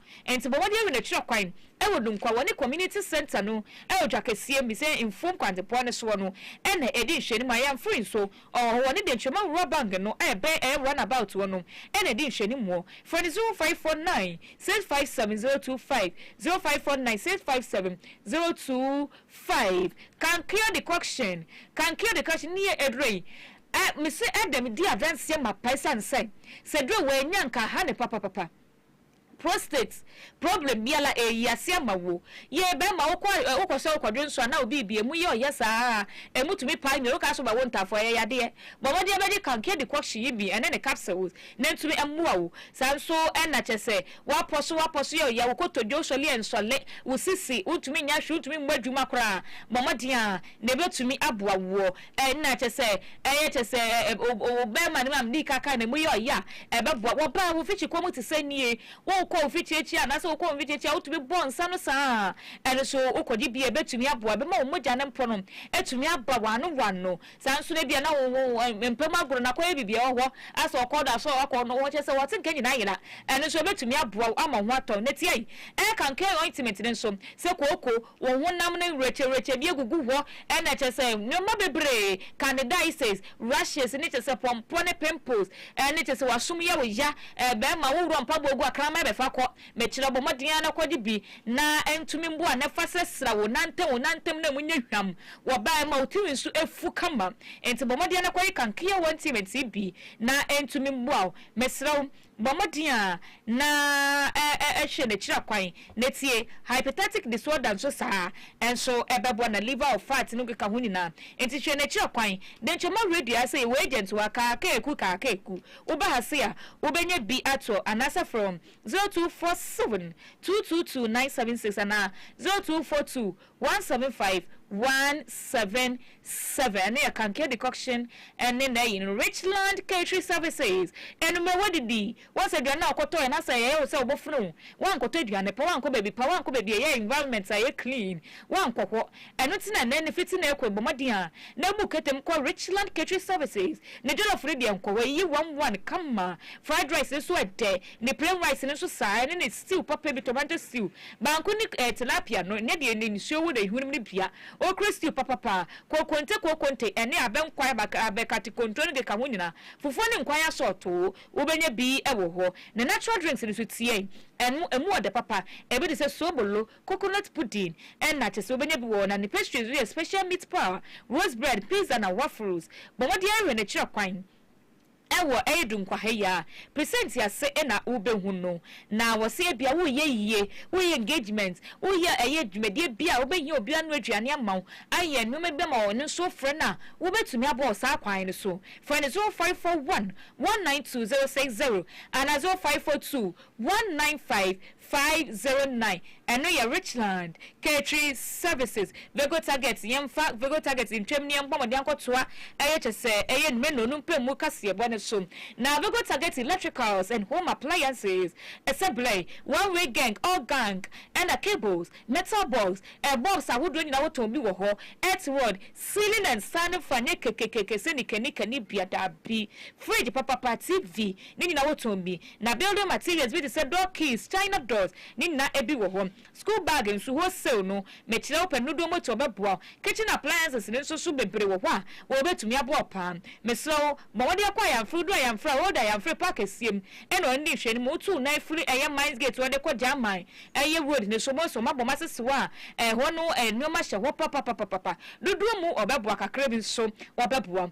Ntsi bɔ mbɔden wen ekyirɛ kwan wɔ Dunkwa wɔ ne Community Centre no dwa kɛseɛ mu sɛ mfuom kwantepɔn no soɔ no na edi nhwɛnimu a yɛnfre nso ɔwɔ hɔ wɔ ne Denkyirema Nwura Bang no a ɛbɛn ɛyɛ run about hɔ no na edi nhwɛnimuɔ frɛ no 0549 657 025 0549 657 025 Kankyo Decoction Kankyo Decoction ne yɛ aduro yi a mese ɛdɛ medi adanseɛ mapae sane sɛ sɛ duro wei annya nka aha ne papapapa. Prostate problem biala eyi ase ama wo. Yɛ bɛma wo kɔ wo kɔ sɛ wo kɔ dwonso anaa obi bi emu yɛ ɔyɛ saa a emu tumi pae nwi woka so ma wo ntafoɔ ɛyɛ yadeɛ. Bɔ mmɔdeɛ bɛgye kankea decoction yi bi ɛne ne capsules na ntumi ɛmmoa wo. Saa nso ɛna kyɛ sɛ wapɔ so wapɔ so yɛ ɔyɛ wo kotodwe wo sɔle ɛnsɔle wo sisi wo ntumi nyɛ hwee wo ntumi mmɔ adwuma koraa bɔ mmɔden a na ɛbɛtumi aboa woɔ. Nna kyɛ sɛ ɛyɛ kyɛ sɛ bɛrima no maame dii ka kaa n'amu yɛ ɔyɛ a, ɛbɛboa. Wɔbaa wo mfikyikɔ mu te sɛ nie, wokɔ wo mfikyiakyia anaasɛ wokɔ wo mfikyiakyia a, wotumi bɔ nsa no saa ara. Ɛno nso, wokɔgye bi a, ɛbɛtumi aboa. Ɛbɛma wo mogya no mpo no atumi aba w'ano w'ano. Saa ara nso no, ebia na wo mpa mu agorɔ na akɔyɛ biribi a ɛwɔ hɔ, a sɛ ɔkɔɔ do a, sɛ ɔkɔ no, kyerɛ sɛ wɔte nka nyinaa yera. Ɛno nso, ɛbɛtumi aboa wo ama wo ho atɔ wo. Na tiae, ɛyɛ kankan ointment no nso, sɛ kooko, Wɔn honam no nweretyewerekyɛ bi agugu hɔ na kyerɛ sɛ nneɛma bebree, candidiasis, rashes ne kyerɛ sɛ pɔmpɔ ne pimples ne kyerɛ sɛ w'asom yɛ wo ya. Bɛrima, wo worɔ mpaboa gu a kraman bɛfa kɔ. Mekyerɛ wo, bɔ mmɔden ara na kɔgye bi na ɛntumi mboa na fa srasra wo nantam, wo nantam no a emu nyɛ hwam wɔ baa mu a wo tiri nso afu kama nti bɔ mmɔden ara na kɔyɛ kankeawa nti metee bi na ɛntumi mboa wo. Mesrɛ wo, Bɔ mmɔden ara na hwɛ n'akyira kwan na tie. Hyperthytic disorder nso saa ara nso bɛboa na liver of fat no keka ho nyinaa nti hwɛ n'akyira kwan. Denkyɛmɔ radio ara sɛ yɛwɔ agent wɔ Akaakaeku Kaakaeku. Woba ha se a wobɛnya bi ato anaasɛ frɛ wɔn 0247 222 976 anaa 0242 One seven five one seven seven ɛno yɛ Kankia decoction ɛne n'ayi no Richland catering services anummerɛ wadidi woahu sɛ aduane no a wokɔtɔɛ no asɛ ɛyɛ wo sɛ wobɛfono wo woankɔtɔ aduane pa woankɔ baabi pa woankɔ baabi a ɛyɛ environment a ɛyɛ clean woankɔ hɔ ɛno nti na ɛnnɛ no fiti nnɛ rekɔ yi bɔ mmɔden a na bu ketɛm kɔ Richland catering services ne jollof no deɛ nkɔ hɔ ɛyɛ one one kama fried rice no nso ɛdɛ Ne plain rice no nso saa, ɛne ne stew papa bi, tomato stew, banku ne eh, tilapia no, nyɛ deɛ ne nsuo wɔ n'ahiwene mu no bia. Okro stew papa paa, kokonte, kokonte, ɛne abɛ nkwan, abɛ, abɛ kate kontoɔ no keka ho nyinaa, fufuo ne nkwan asɔɔtoo, wobɛnya bi wɔ hɔ. Ne natural drinks no nso tiɛn, ɛno, ɛmu ɔdɛ papa, ɛbi te sɛ sobolo, coconut pudding, ɛna kyɛ sɛ wobɛnya bi wɔ hɔ. Na ne pastries nso yɛ special meat paa, rose bread, pizza na waffles. Bɔ mmɔden ara hwɛ no, kyerɛ kwan. Wɔ Eid nkwahayi a, present ase na wobɛhu no. Na wɔse ebia woreyɛ ayie, woreyɛ engagement, woreyɛ ɛyɛ dwumadie bi a wobɛhia obi anoa aduane ama wo, ayɛ nnoɔma bi ama wo, ɛno nso wofrɛ no a, wobɛtumi abɔ wɔ saa kwan no so. Frɛ no 0541 192060 anaa 0542 195 509, Ɛno yɛ Richland, Katri services, Vego Target Yɛmfa Vego Target ntwam ne yɛmbɔ mmɔden akɔtoa ɛyɛ kyɛ sɛ ɛyɛ Nmeno no mpamu kaseɛbɔ no so. Na Vego Target Electricals and Home Appliances sɛ blɛɛ, one way geng, all gang, ɛna cables, metal box, ɛ box ahodoɔ nyinaa wotɔn bi wɔ hɔ, earth rod, ceiling and sand fa nyɛ kekekeke sɛ nika nika ne biada bi, fridge papapa, TV, ne nyinaa wotɔn bi. Na building materials bi te sɛ door keys, china doors, ne nyinaa ebi wɔ hɔ. School bag nso, wholesale no, mekyerɛ wo pɛ dodoɔ mu atu ɔbɛboa wo. Kitchen appliances no nso so bebree wɔ hɔ a wɔbɛtumi aboa wo paa. Mesrɛ wo, bɔ mmɔden akɔ Ayamfre, wodu Ayamfre a, road Ayamfre park kɛseɛ mu ɛna ɔno di nhwɛanim. Wotu wo nan firi ɛyɛ mines gate hɔ de kɔ German ɛyɛ road no so, wobɛhu sɛ wɔabɔ mo asese hɔ a ɛhɔ no nnoɔma hyɛ hɔ papapapapa. Dodoɔ mu ɔbɛboa, kakra bi nso ɔbɛboa.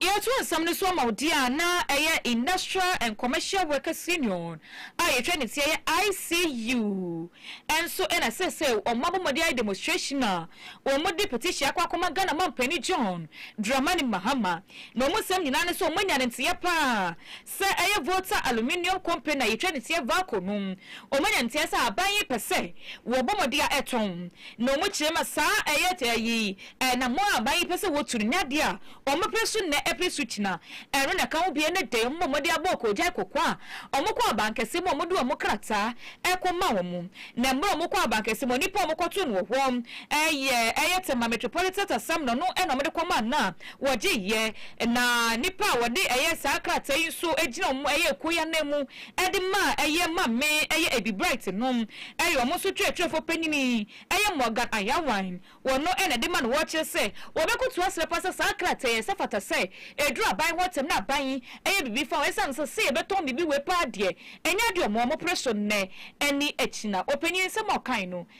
Yɛto nsɛm no so ama wo deɛ a na ɛyɛ Industrial and Commercial Workers Union a yɛtwa ne teɛ yɛ ICU nso na seesei wɔn abɔ mmɔden ayɛ demonstration a wɔde petition akɔ akɔma Ghana Mampanin John Dramani Mahama na wɔn nsɛm nyinaa ne sɛ wɔanya ne nteɛ paa Sɛ ɛyɛ Volta Aluminium Company na yɛtwa no tia Valco no, wɔanya nteɛ sɛ aban yi pɛ sɛ wɔbɔ mmɔden a ɛtɔn, na wɔkyerɛ ma saa ɛyɛ ayi ɛnamɔn a aban yi pɛ sɛ wɔtu no nyɛ adeɛ a wɔpere so nnɛ pere so gyina. Ɛno na ɛka ho bie ne dɛn? Wɔbɔ mmɔden abɔ wɔn koogyae kɔkɔ a wɔkɔ abankɛseɛ mu a wɔde wɔn krataa rekɔma wɔn, na mmerɛ a wɔkɔ abankɛseɛ mu no, nipa a wɔkɔtoo no wɔ hɔ yɛ ɛyɛ Tema Metropolitan Tasamno no na wɔde kɔmaa no a wɔgye yɛ, na nnipa a wɔde ɛyɛ saa krataa yi nso gyina wɔn ɛyɛ ekuo yi ananmu de ma ɛyɛ Maame ɛyɛ Abby Bright no ɛyɛ wɔn nso twerɛtwerɛfoɔ panyini ɛyɛ Morgan Ayawan wɔn no na ɛde ma no wɔkyerɛ sɛ wɔbɛkoto asrɛ paa sɛ saa krataa yi ɛsɛ fata sɛ ɛduru aban hɔ ntɛm na aban yi ɛyɛ biribi fa ho ɛsiane sɛ sɛ yɛbɛtɔn biribi wei paa deɛ ɛnyɛ adeɛ wɔn a wɔpere so nnɛ ɛne akyina ɔpanyini nsɛm a ɔkae no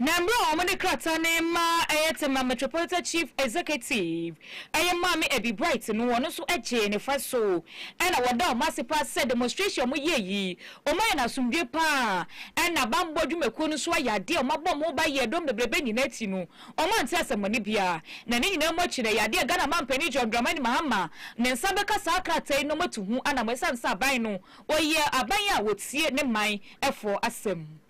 Na mmerɛ a wɔde krataa no rema ɛyɛ Tema Metropolitan Chief Executive, ɛyɛ Maame Abby Bright no, ɔno nso gyee ne fa so, ɛna wɔda wɔn ase paa sɛ demonstration a wɔyɛɛ yi, wɔayɛ no asomdwoeɛ paa, ɛna bammɔ dwumakuo no nso ayɛ adeɛ a wɔabɔ wɔn ho ban yɛɛ dɔm bebrebe nyinaa ti no, wɔante asɛmmɔne biara. Na ne nyinaa mu akyi no, ɛyɛ adeɛ a Ghana Mampanin John Dramani Mahama ne nsa bɛka saa krataa yi na wɔatu ho anamɔ ɛsiane sɛ aban no, wɔyɛ aban a wɔtie ne man foɔ asɛm.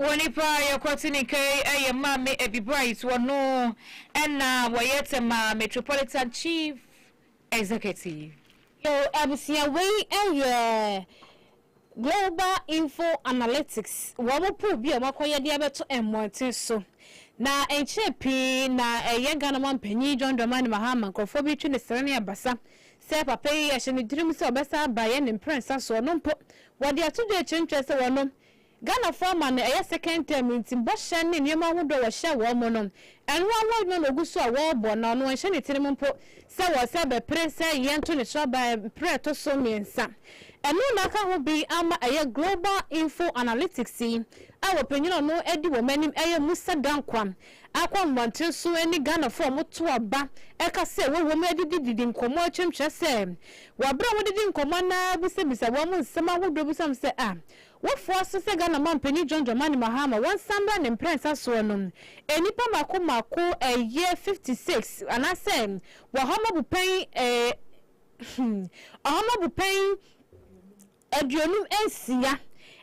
Wɔ nipa a yɛkwati ne ka yi ɛyɛ Maame Abby Bright wɔ no ɛna wɔyɛ Tema Metropolitan Chief Executive. Yɛn abusua wei ɛyɛ Global Info Analytics wɔn pool bi a wɔn akɔyɛ de abɛto mmɔnten so na ɛnkyɛɛ pii na ɛyɛ Ghana man panyin John Dramani Mahama nkorɔfoɔ bi twe ne sere ne abasa sɛ papa yi ɛhyɛ ne tirim sɛ ɔbɛsan aba yɛn ne mprɛnsa soɔ no mpo Wɔde ato dwa akyire no kyerɛ sɛ wɔn no, Ghanafoɔ ama no ɛyɛ second term nti bɔhyɛ ne nneɛma ahodoɔ a wɔhyɛ wɔn mo no, ɛno ara ho adwuma na wɔgu so a wɔrebɔ na ɔno ɔnhyɛ ne tirim mpo sɛ wɔsɛ bɛpere sɛ yɛnto ne sraban mprɛ ɛtɔ so mmiɛnsa. Ɛno na aka ho bi ama ɛyɛ Global Info Analytics yi a wɔpanyin a ɔno adi wɔn anim ɛyɛ Musa Dankwah akɔ nhomantere so ne Ghanafoɔ a wɔto aba ɛka sɛ wɔwɔ mu adidididi nkɔmmɔ akyerɛ mu kyerɛ sɛ Wɔ bere a wɔde di nkɔmmɔ anaa abisabisa wɔn mu nsɛm ahodoɔ bi so am sɛ a, wofoa so sɛ Ghana Ɔmanpanin John Dramani Mahama wɔnsan mmra ne mprɛnsa soɔ no, nnipa mmaako mmaako ɛyɛ fifty six anaasɛ Ɔhɔma Bupɛn eh, hmm, Ɔhɔma Bupɛn aduonum nsia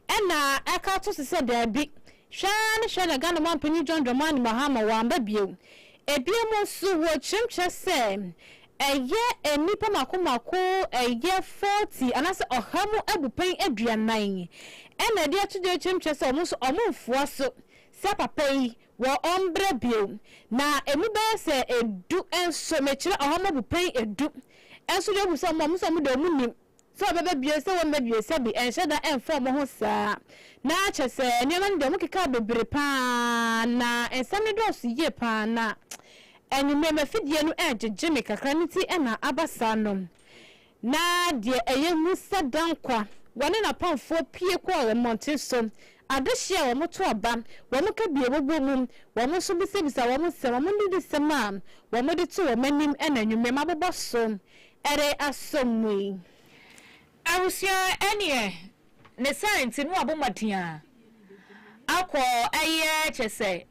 ɛna ɛka to se sɛ daabi, hwɛ ara ne hwɛ na Ghana Manpanin John Dramani Mahama w'anba bio. Ebiom nso wɔ kyerɛmkyerɛ sɛ ɛyɛ nnipa mako mako ɛyɛ forty anaasɛ ɔha mu abupɛn aduanan ɛna ɛde ato dwa kyerɛmkyerɛ sɛ wɔn nso wɔn nfoa so sɛ papa yi wɔ wɔn brɛ bio na emu bɛyɛ sɛ edu nso mekyerɛ ɔha mu abupɛn edu nso deɛ ohu sɛ wɔn a wɔn nso wɔn deɛ wɔn nim. Sɛ wɔbɛba bio sɛ wɔmma bio sɛ bi ɛnhyɛ da ɛmfa wɔn ho saa. Na kyerɛ sɛ nneɛma no deɛ wɔn keka bebree pa ara na nsɛm no dɔɔso yie pa ara na anwummerɛ m'afidie no ɛregyegye me kakra no nti na aba saa no. Na deɛ ɛyɛ hu sɛ Dankwa, wɔne n'apamfoɔ pue kɔɔ wɔn mmɔnten so. Adehyeɛ wɔn to aba, wɔn kabie bobɔ mu, wɔn nso bisabisa wɔn nsɛm, wɔn nidisɛm a wɔde to wɔn anim na anwummerɛ mabobɔ so Ɛde asɔ mu yi, abusua ɛneɛ ne saa nti no wabɔ mmɔden a akɔ ɛyɛ kyerɛ sɛ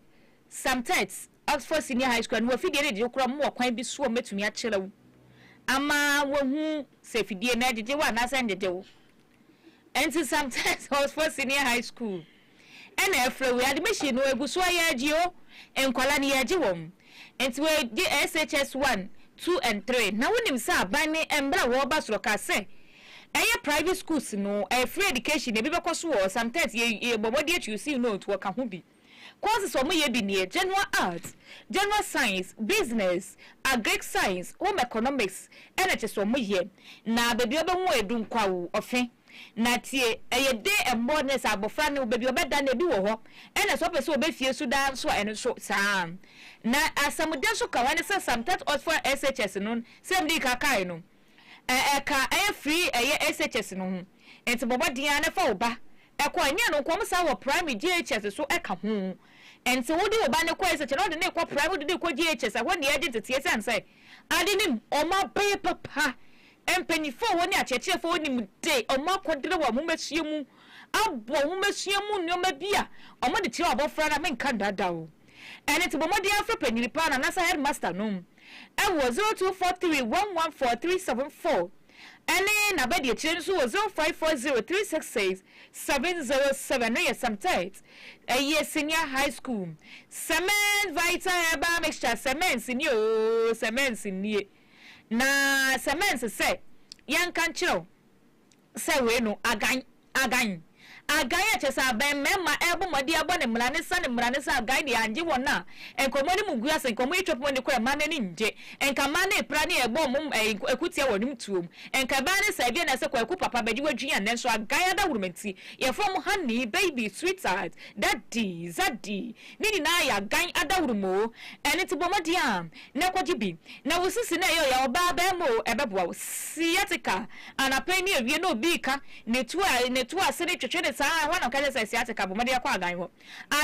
Samtet Oxford Senior High School a no wɔ afidie no de wokura mu wɔ kwan bi so a wɔbɛtumi akyerɛ wo ama wahu sɛ afidie no ɛgyegye wo anaasɛ ɛngyegye wo nti Samtet Oxford Senior High School ɛna ɛfrɛ wei ade bɛhyɛ no ɛgu so a yɛgye o nkwadaa no yɛgye wɔn nti wei gye SHS one two and three na wonim sɛ aban ne mmerɛ a wɔreba soro kaa sɛ ɛyɛ private schools no ɛyɛ free education ebi bɛkɔ so wɔ sometimes yɛ yɛbɔ mmɔden akyi using no nti wɔka ho bi courses wɔn yɛ bi neɛ general arts general science business agric science home economics ɛna kyɛ sɛ wɔn yɛ na baabi a wɔbɛhu edu nkwawu ɔfɛn. Na tie, ɛyɛ de mmɔ ne sɛ abɔfra ne wo baabi ɔbɛda no, ebi wɔ hɔ. Ɛna sɛ ɔpɛ sɛ ɔbɛ fie so daa nso a, ɛno nso saa ara. Na asamudɛ nso ka ho, ɛne sɛ some that opt for SHS no, sɛdeɛ medi kan kaeɛ no, ɛ, ɛka ɛyɛ firi ɛyɛ SHS no ho. Nti bɔ mmɔden ara na fa wo ba kɔ. Ɛnyɛ ɛno nko, wɔsan wɔ primary JHS nso ka ho. Nti wode wo ba no kɔ SHS na wode no rekɔ primary, wode no rekɔ JHS a, ɛhɔ deɛ ɛgye nteteɛ esiane sɛ ade no mu wɔn abɛyɛ papa Mpanyimfo hɔ ne akyerɛkyerɛfo hɔ nim de wɔn akɔdrɛ wɔ nhomasua mu aboa nhomasua mu nneɛma bi a wɔde kyerɛ abofra no a, menka nnaadaa wo. Ɛno nti, bɔ mmɔden ara frɛ panyin paa no anaasɛ hɛdmasta no wɔ 0243114374 ne n'abadiakyire no nso wɔ 0540366707 no yɛ Samtet, ɛyɛ Senior High School. Cement Vita Herbal Mixture, Cement nie oo, Cement nie. Na sɛ mɛnse sɛ yɛnka nkyerɛ wo sɛ wei no agan, agan, agan a kyerɛ sɛ abɛn mmarima rebɔ mmɔden abɔ ne mmara ne sa ne mmara ne sa agan deɛ angye wɔn a nkɔmmɔ no mu ngu ase, nkɔmmɔ yi twɛpɔn ani kora mmaa no ani ngye, nka mmaa no repira ne ɛrebɔ wɔn ɛɛ akutia wɔ wɔn tuom, nka ɛbɛyɛ ne saa ebia na ɛsɛ Kwaku papa bɛgye w'adwini a nanso agan adawuruma nti yɛfrɛ wɔn honey, baby, sweetheart, daddy, zaddy, Ne nyinaa yɛ agan adaworo mu oo, ɛno nti bɔ mmɔden a na kɔgye bi. Na wo sisi no a ɛyɛ ɔyɛ ɔbaa barima oo, ɛbɛboa wo. Sciatica, anapa yi ne awia na obi reka ne to a, ne to ase no twetwe no saa ara, ɛhɔ na ɔka kyerɛ sɛ sciatica, bɔ mmɔden kɔ agan hɔ.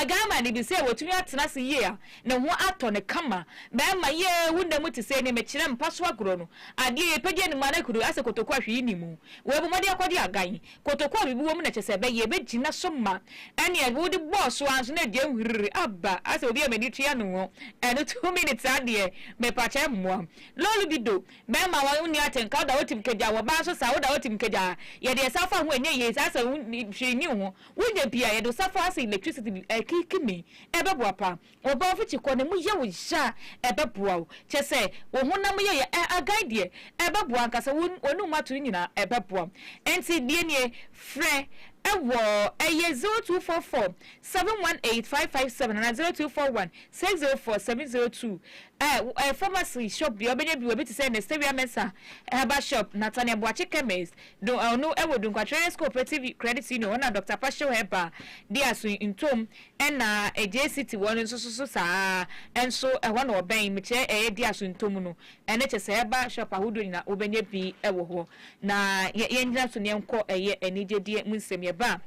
Agan ma no bi sɛ watumi atena ase yie a, ne ho atɔ no kama. Barima, yee, wo nna mu te sɛn? Mekyerɛ mpa so agorɔ no, adeɛ a yɛpagya anim a na kuro, asɛ kotoku a hwee nni mu. Wei, bɔ mmɔden kɔgye agan. Kotoku a biribi wɔ mu na ɛkyɛ sɛ ɛbɛyɛ, ebegyina so ma. Ɛnneɛ sɛ wode bɔɔ so ara nso na ɛdua hwiriri aba asɛ obi a m'ani tua no ho. Ɛno two minutes ara deɛ, mepakyɛ mmoa. Lolo bi do, bɛrima a wonni atenka, woda wo tim kagya, ɔbaa nso saa, woda wo tim kagya a, yɛde ɛsa fa ho a ɛnyɛ yie saa sɛ hwee nni ho. Wonya bi a, yɛde wo sa fa a asɛ electricity bi ɛrekikimi. Ɛbɛboa paa. Wo bɔfo te kɔ na mu yɛ wo hya a, ɛbɛboa wo. Kyerɛ sɛ, wo honam yɛyɛ a, agan deɛ, ɛbɛboa ankasa. Wo w'anum ato no nyinaa, ɛbɛboa. Enti, deɛ nie, frɛ wɔ, ɛyɛ zero two four four, seven one eight, five five seven anaa zero two four one, six zero four, seven zero two. Ɛ, ɛ, pharmacy shop deɛ, wobɛnya bi wɔ bi te sɛ Nestewia Mensah herbal shop, Nathaniel Boakye chemist, do, ɔno ɛwɔ Dunkwatwerere's Cooperative Credit Union, hɔ na Doctor Pashew Herbal de aso ntom Ɛna Agye City wɔ no nso so so saa ara, nso ɛhɔ na ɔbɛn, mekyerɛ ɛyɛ di aso ntomu no, ɛno kyɛ sɛ ɛba shop ahodoɔ nyinaa wobɛnya bi wɔ hɔ. Na yɛ yɛngyina so na yɛnkɔ ɛyɛ anigyedeɛ mu nsɛm, yɛba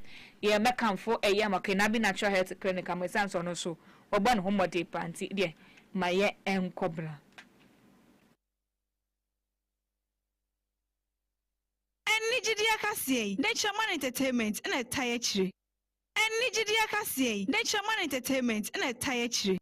a yɛ mɛkamfo ɛyɛ Amokenabi Natural Health Clinic ama ɛsiane sɛ ɔno nso ɔbɔ ne ho mmɔden paa nti deɛ ma yɛ nkɔ bra. Anigyedeɛ akaseɛ yi, Nature Man Entertainment na ɛtae akyire. Ɛnne gyidi akaseɛ yi, ne kyerɛma ne entertainment na ɛtae akyire.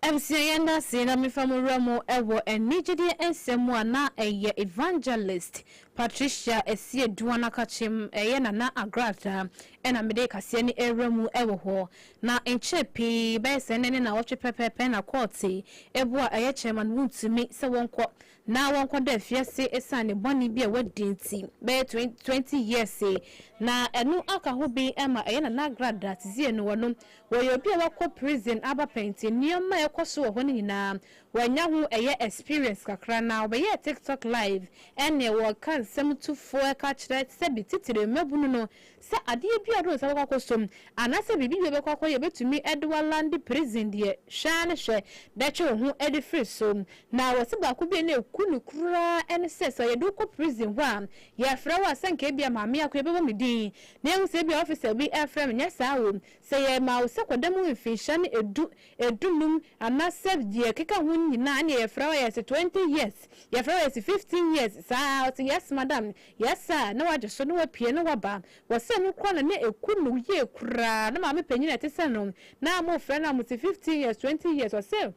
Abusua yɛn da ase na mefa mo wura mu wɔ ɛnne gyidi nsɛm mu a na ɛyɛ Evangelist Patricia Ɛseɛ Duan Akakyem ɛyɛ Nana Agradaa ɛna mede kaseɛ no ɛwura mu wɔ hɔ. Na nkyɛ pii bɛyɛ sɛ nnɛ ne nawɔtwe pɛpɛɛpɛ na kɔɔte ɛboɔ a ɛyɛ kyerɛma no wontumi sɛ wɔnkɔ na wɔnkɔda afiase esiane bɔne bi a wɔadi nti bɛyɛ twenty years yi, na ɛno aka ho bi ma ɛyɛ Nana Agradaa Tizie no wɔ no. Wɔyɛ obi a wakɔ prison aba pɛn nti nneɛma a ɛkɔ so wɔ hɔ no nyinaa wanya ho ɛyɛ experience kakra na ɔbɛyɛɛ TikTok live ɛne wɔka nsɛm tufoɔ ɛka kyerɛ sɛbi titire mmabunu no Sɛ adeɛ biara ɔde ne nsa bɛkɔ akɔsɔ mu, anaasɛ biribi bi ɔbɛkɔ akɔyɛ a ɛbɛtumi de walande prison deɛ, hwɛ ara na hwɛ na twe wo ho de firi so. Na wɔse baako bi a na ɛku no koraa ne sɛ, sɛ yɛde wo kɔ prison hɔ a, yɛfrɛ wo a, sɛ anka ebia Maame Akoya bɛbɔ me din, na yɛahu sɛ ebia officer bi refrɛ me, nyɛ saa o. Sɛ yɛma wo sɛ kɔda mu mfinhyia no edu, edunum, anaasɛ deɛ ɛkeka ho no nyinaa, ɛnneɛ yɛfrɛ wo a, yɛse twenty years, yɛfrɛ wo a, yɛse fifteen years, saa ara. Ɔse, Yes, madam, Yɛ saa a, na wagye so, na wapue, na waba. Wɔ sɛ no kura no, na ɛku no yie koraa. Na maame panyin a ɛte sɛ no, na wɔrefrɛ no a, wɔte fifteen years, twenty years. Ɔse,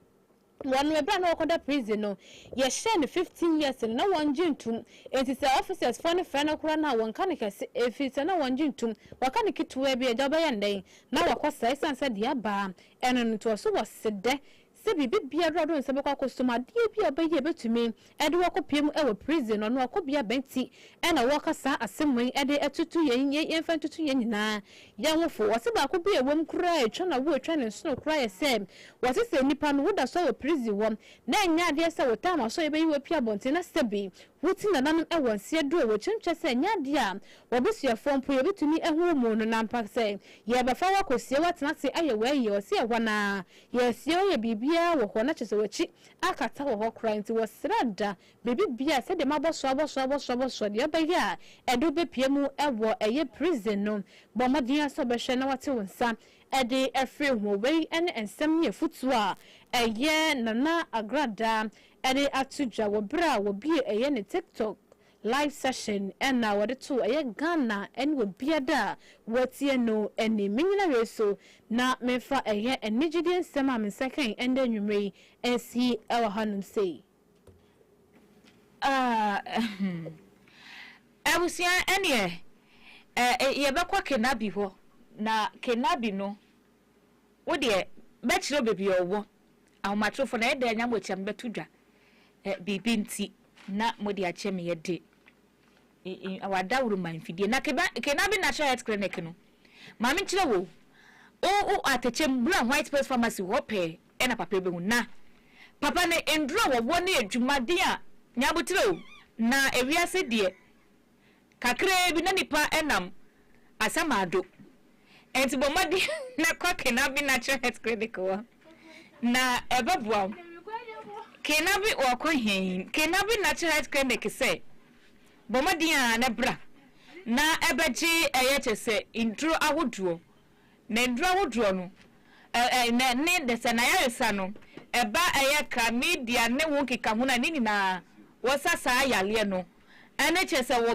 Wɔ no ɛberɛ a na ɔrekɔda prison no, yɛhyɛɛ no fifteen years no, na wɔngye ntum. Enti sɛ officers foɔ no frɛ no koraa no a, wɔnka no kɛse, ɛfiri sɛ na wɔngye ntum. Wɔka no ketewaa bi a, agya wobɛyɛ no dɛn? Na wakɔ saa, ɛsiane sɛ deɛ abaa ɛno no nti. Ɔse, Wɔ se dɛ sɛ biribi biara do nsɛ bɔkɔ akɔsom adeɛ bi a ɔbɛyɛ a bɛtumi de wo akɔ pie mu wɔ prison no ɔno akɔbea bɛn ti na wɔka saa asɛm wei de atutu yɛn yɛn yɛmfa ntutu yɛn nyinaa yɛn ho fo wɔse baako bi a ɛwom koraa a ɛtwa na wo ɛtwa ne nsono koraa yɛ sɛ wɔse sɛ nipa no wo da so wɔ prison hɔ na ɛnyɛ adeɛ sɛ wo time asɔ yɛbɛyi wo apue abɔnten na sɛ bi wo ti nananom wɔ nseɛ do a wɔ kyɛm kyɛ sɛ ɛnyɛ adeɛ a wɔ abusuafoɔ mpo yɛbɛtumi ahu wo mu no na mpa sɛ yɛbɛfa wo akɔsie wo atena ase ayɛ w'ayie wɔse ɛhɔ no ara Yes yɛ ɔyɛ biribiara wɔ hɔ na kyerɛ sɛ wakyi akata wɔ hɔ koraa nti wɔsra da biribi biara sɛdeɛ mabɔ so abɔ so abɔ so abɔ so deɛ ɛbɛyɛ a ɛde wo bɛpue mu wɔ ɛyɛ prison no bɔ mmɔden ara sɛ wobɛhwɛ na wate wo nsa de afiri ho wei ne nsɛm ne afutuo a ɛyɛ Nana Agradaa de ato dwa wɔ berɛ a wɔbue ɛyɛ ne TikTok Live session na wɔde too ɛyɛ Ghana ne obiada a watie no anim. Me nyina wei so na memfa ɛyɛ anigyedie nsɛm a mensa kae ɛndɛ anwummerɛ yi nsi wɔ hanom sei. Abusua ɛneɛ yɛbɛkɔ Kenabi hɔ na Kenabi no Wo deɛ, mɛkyerɛ wo baabi a ɔwɔ. Ahomatorofo no, ɛyɛ dɛn na moatia me bɛto dwa? Ɛ, biribi nti na mode akyɛ me yɛ de? I, i, awɔ adaworo ma mfidie. Na keba, kena bi na ahyɛ het clinic no. Ma menkyerɛ wo, o, o, atɛkyɛ mu, bra White Pearls Pharmacy hɔ pɛɛ ɛna papa yi bɛhu. Na, papa no, nnuro a wɔwɔ ne adwumaden a, nya aboterɛ o. Na ewiase deɛ, kakraa bi na nipa nam asamado nti bɔ mmɔden na kɔ Kenabi Natural Health Clinic hɔ na ɛbɛboa wo. Kenabi wɔkɔ he? Kenabi Natural Health Clinic sɛ bɔ mmɔden a na bra na ɛbɛgye ɛyɛ kyɛ sɛ nnuro ahodoɔ na nnuro ahodoɔ no ne de sɛ n'ayaresa no ɛba ɛyɛ chlamydia ne ho nkekaho no a ne nyinaa wɔsa saa yareɛ no ɛne kyɛ sɛ wɔ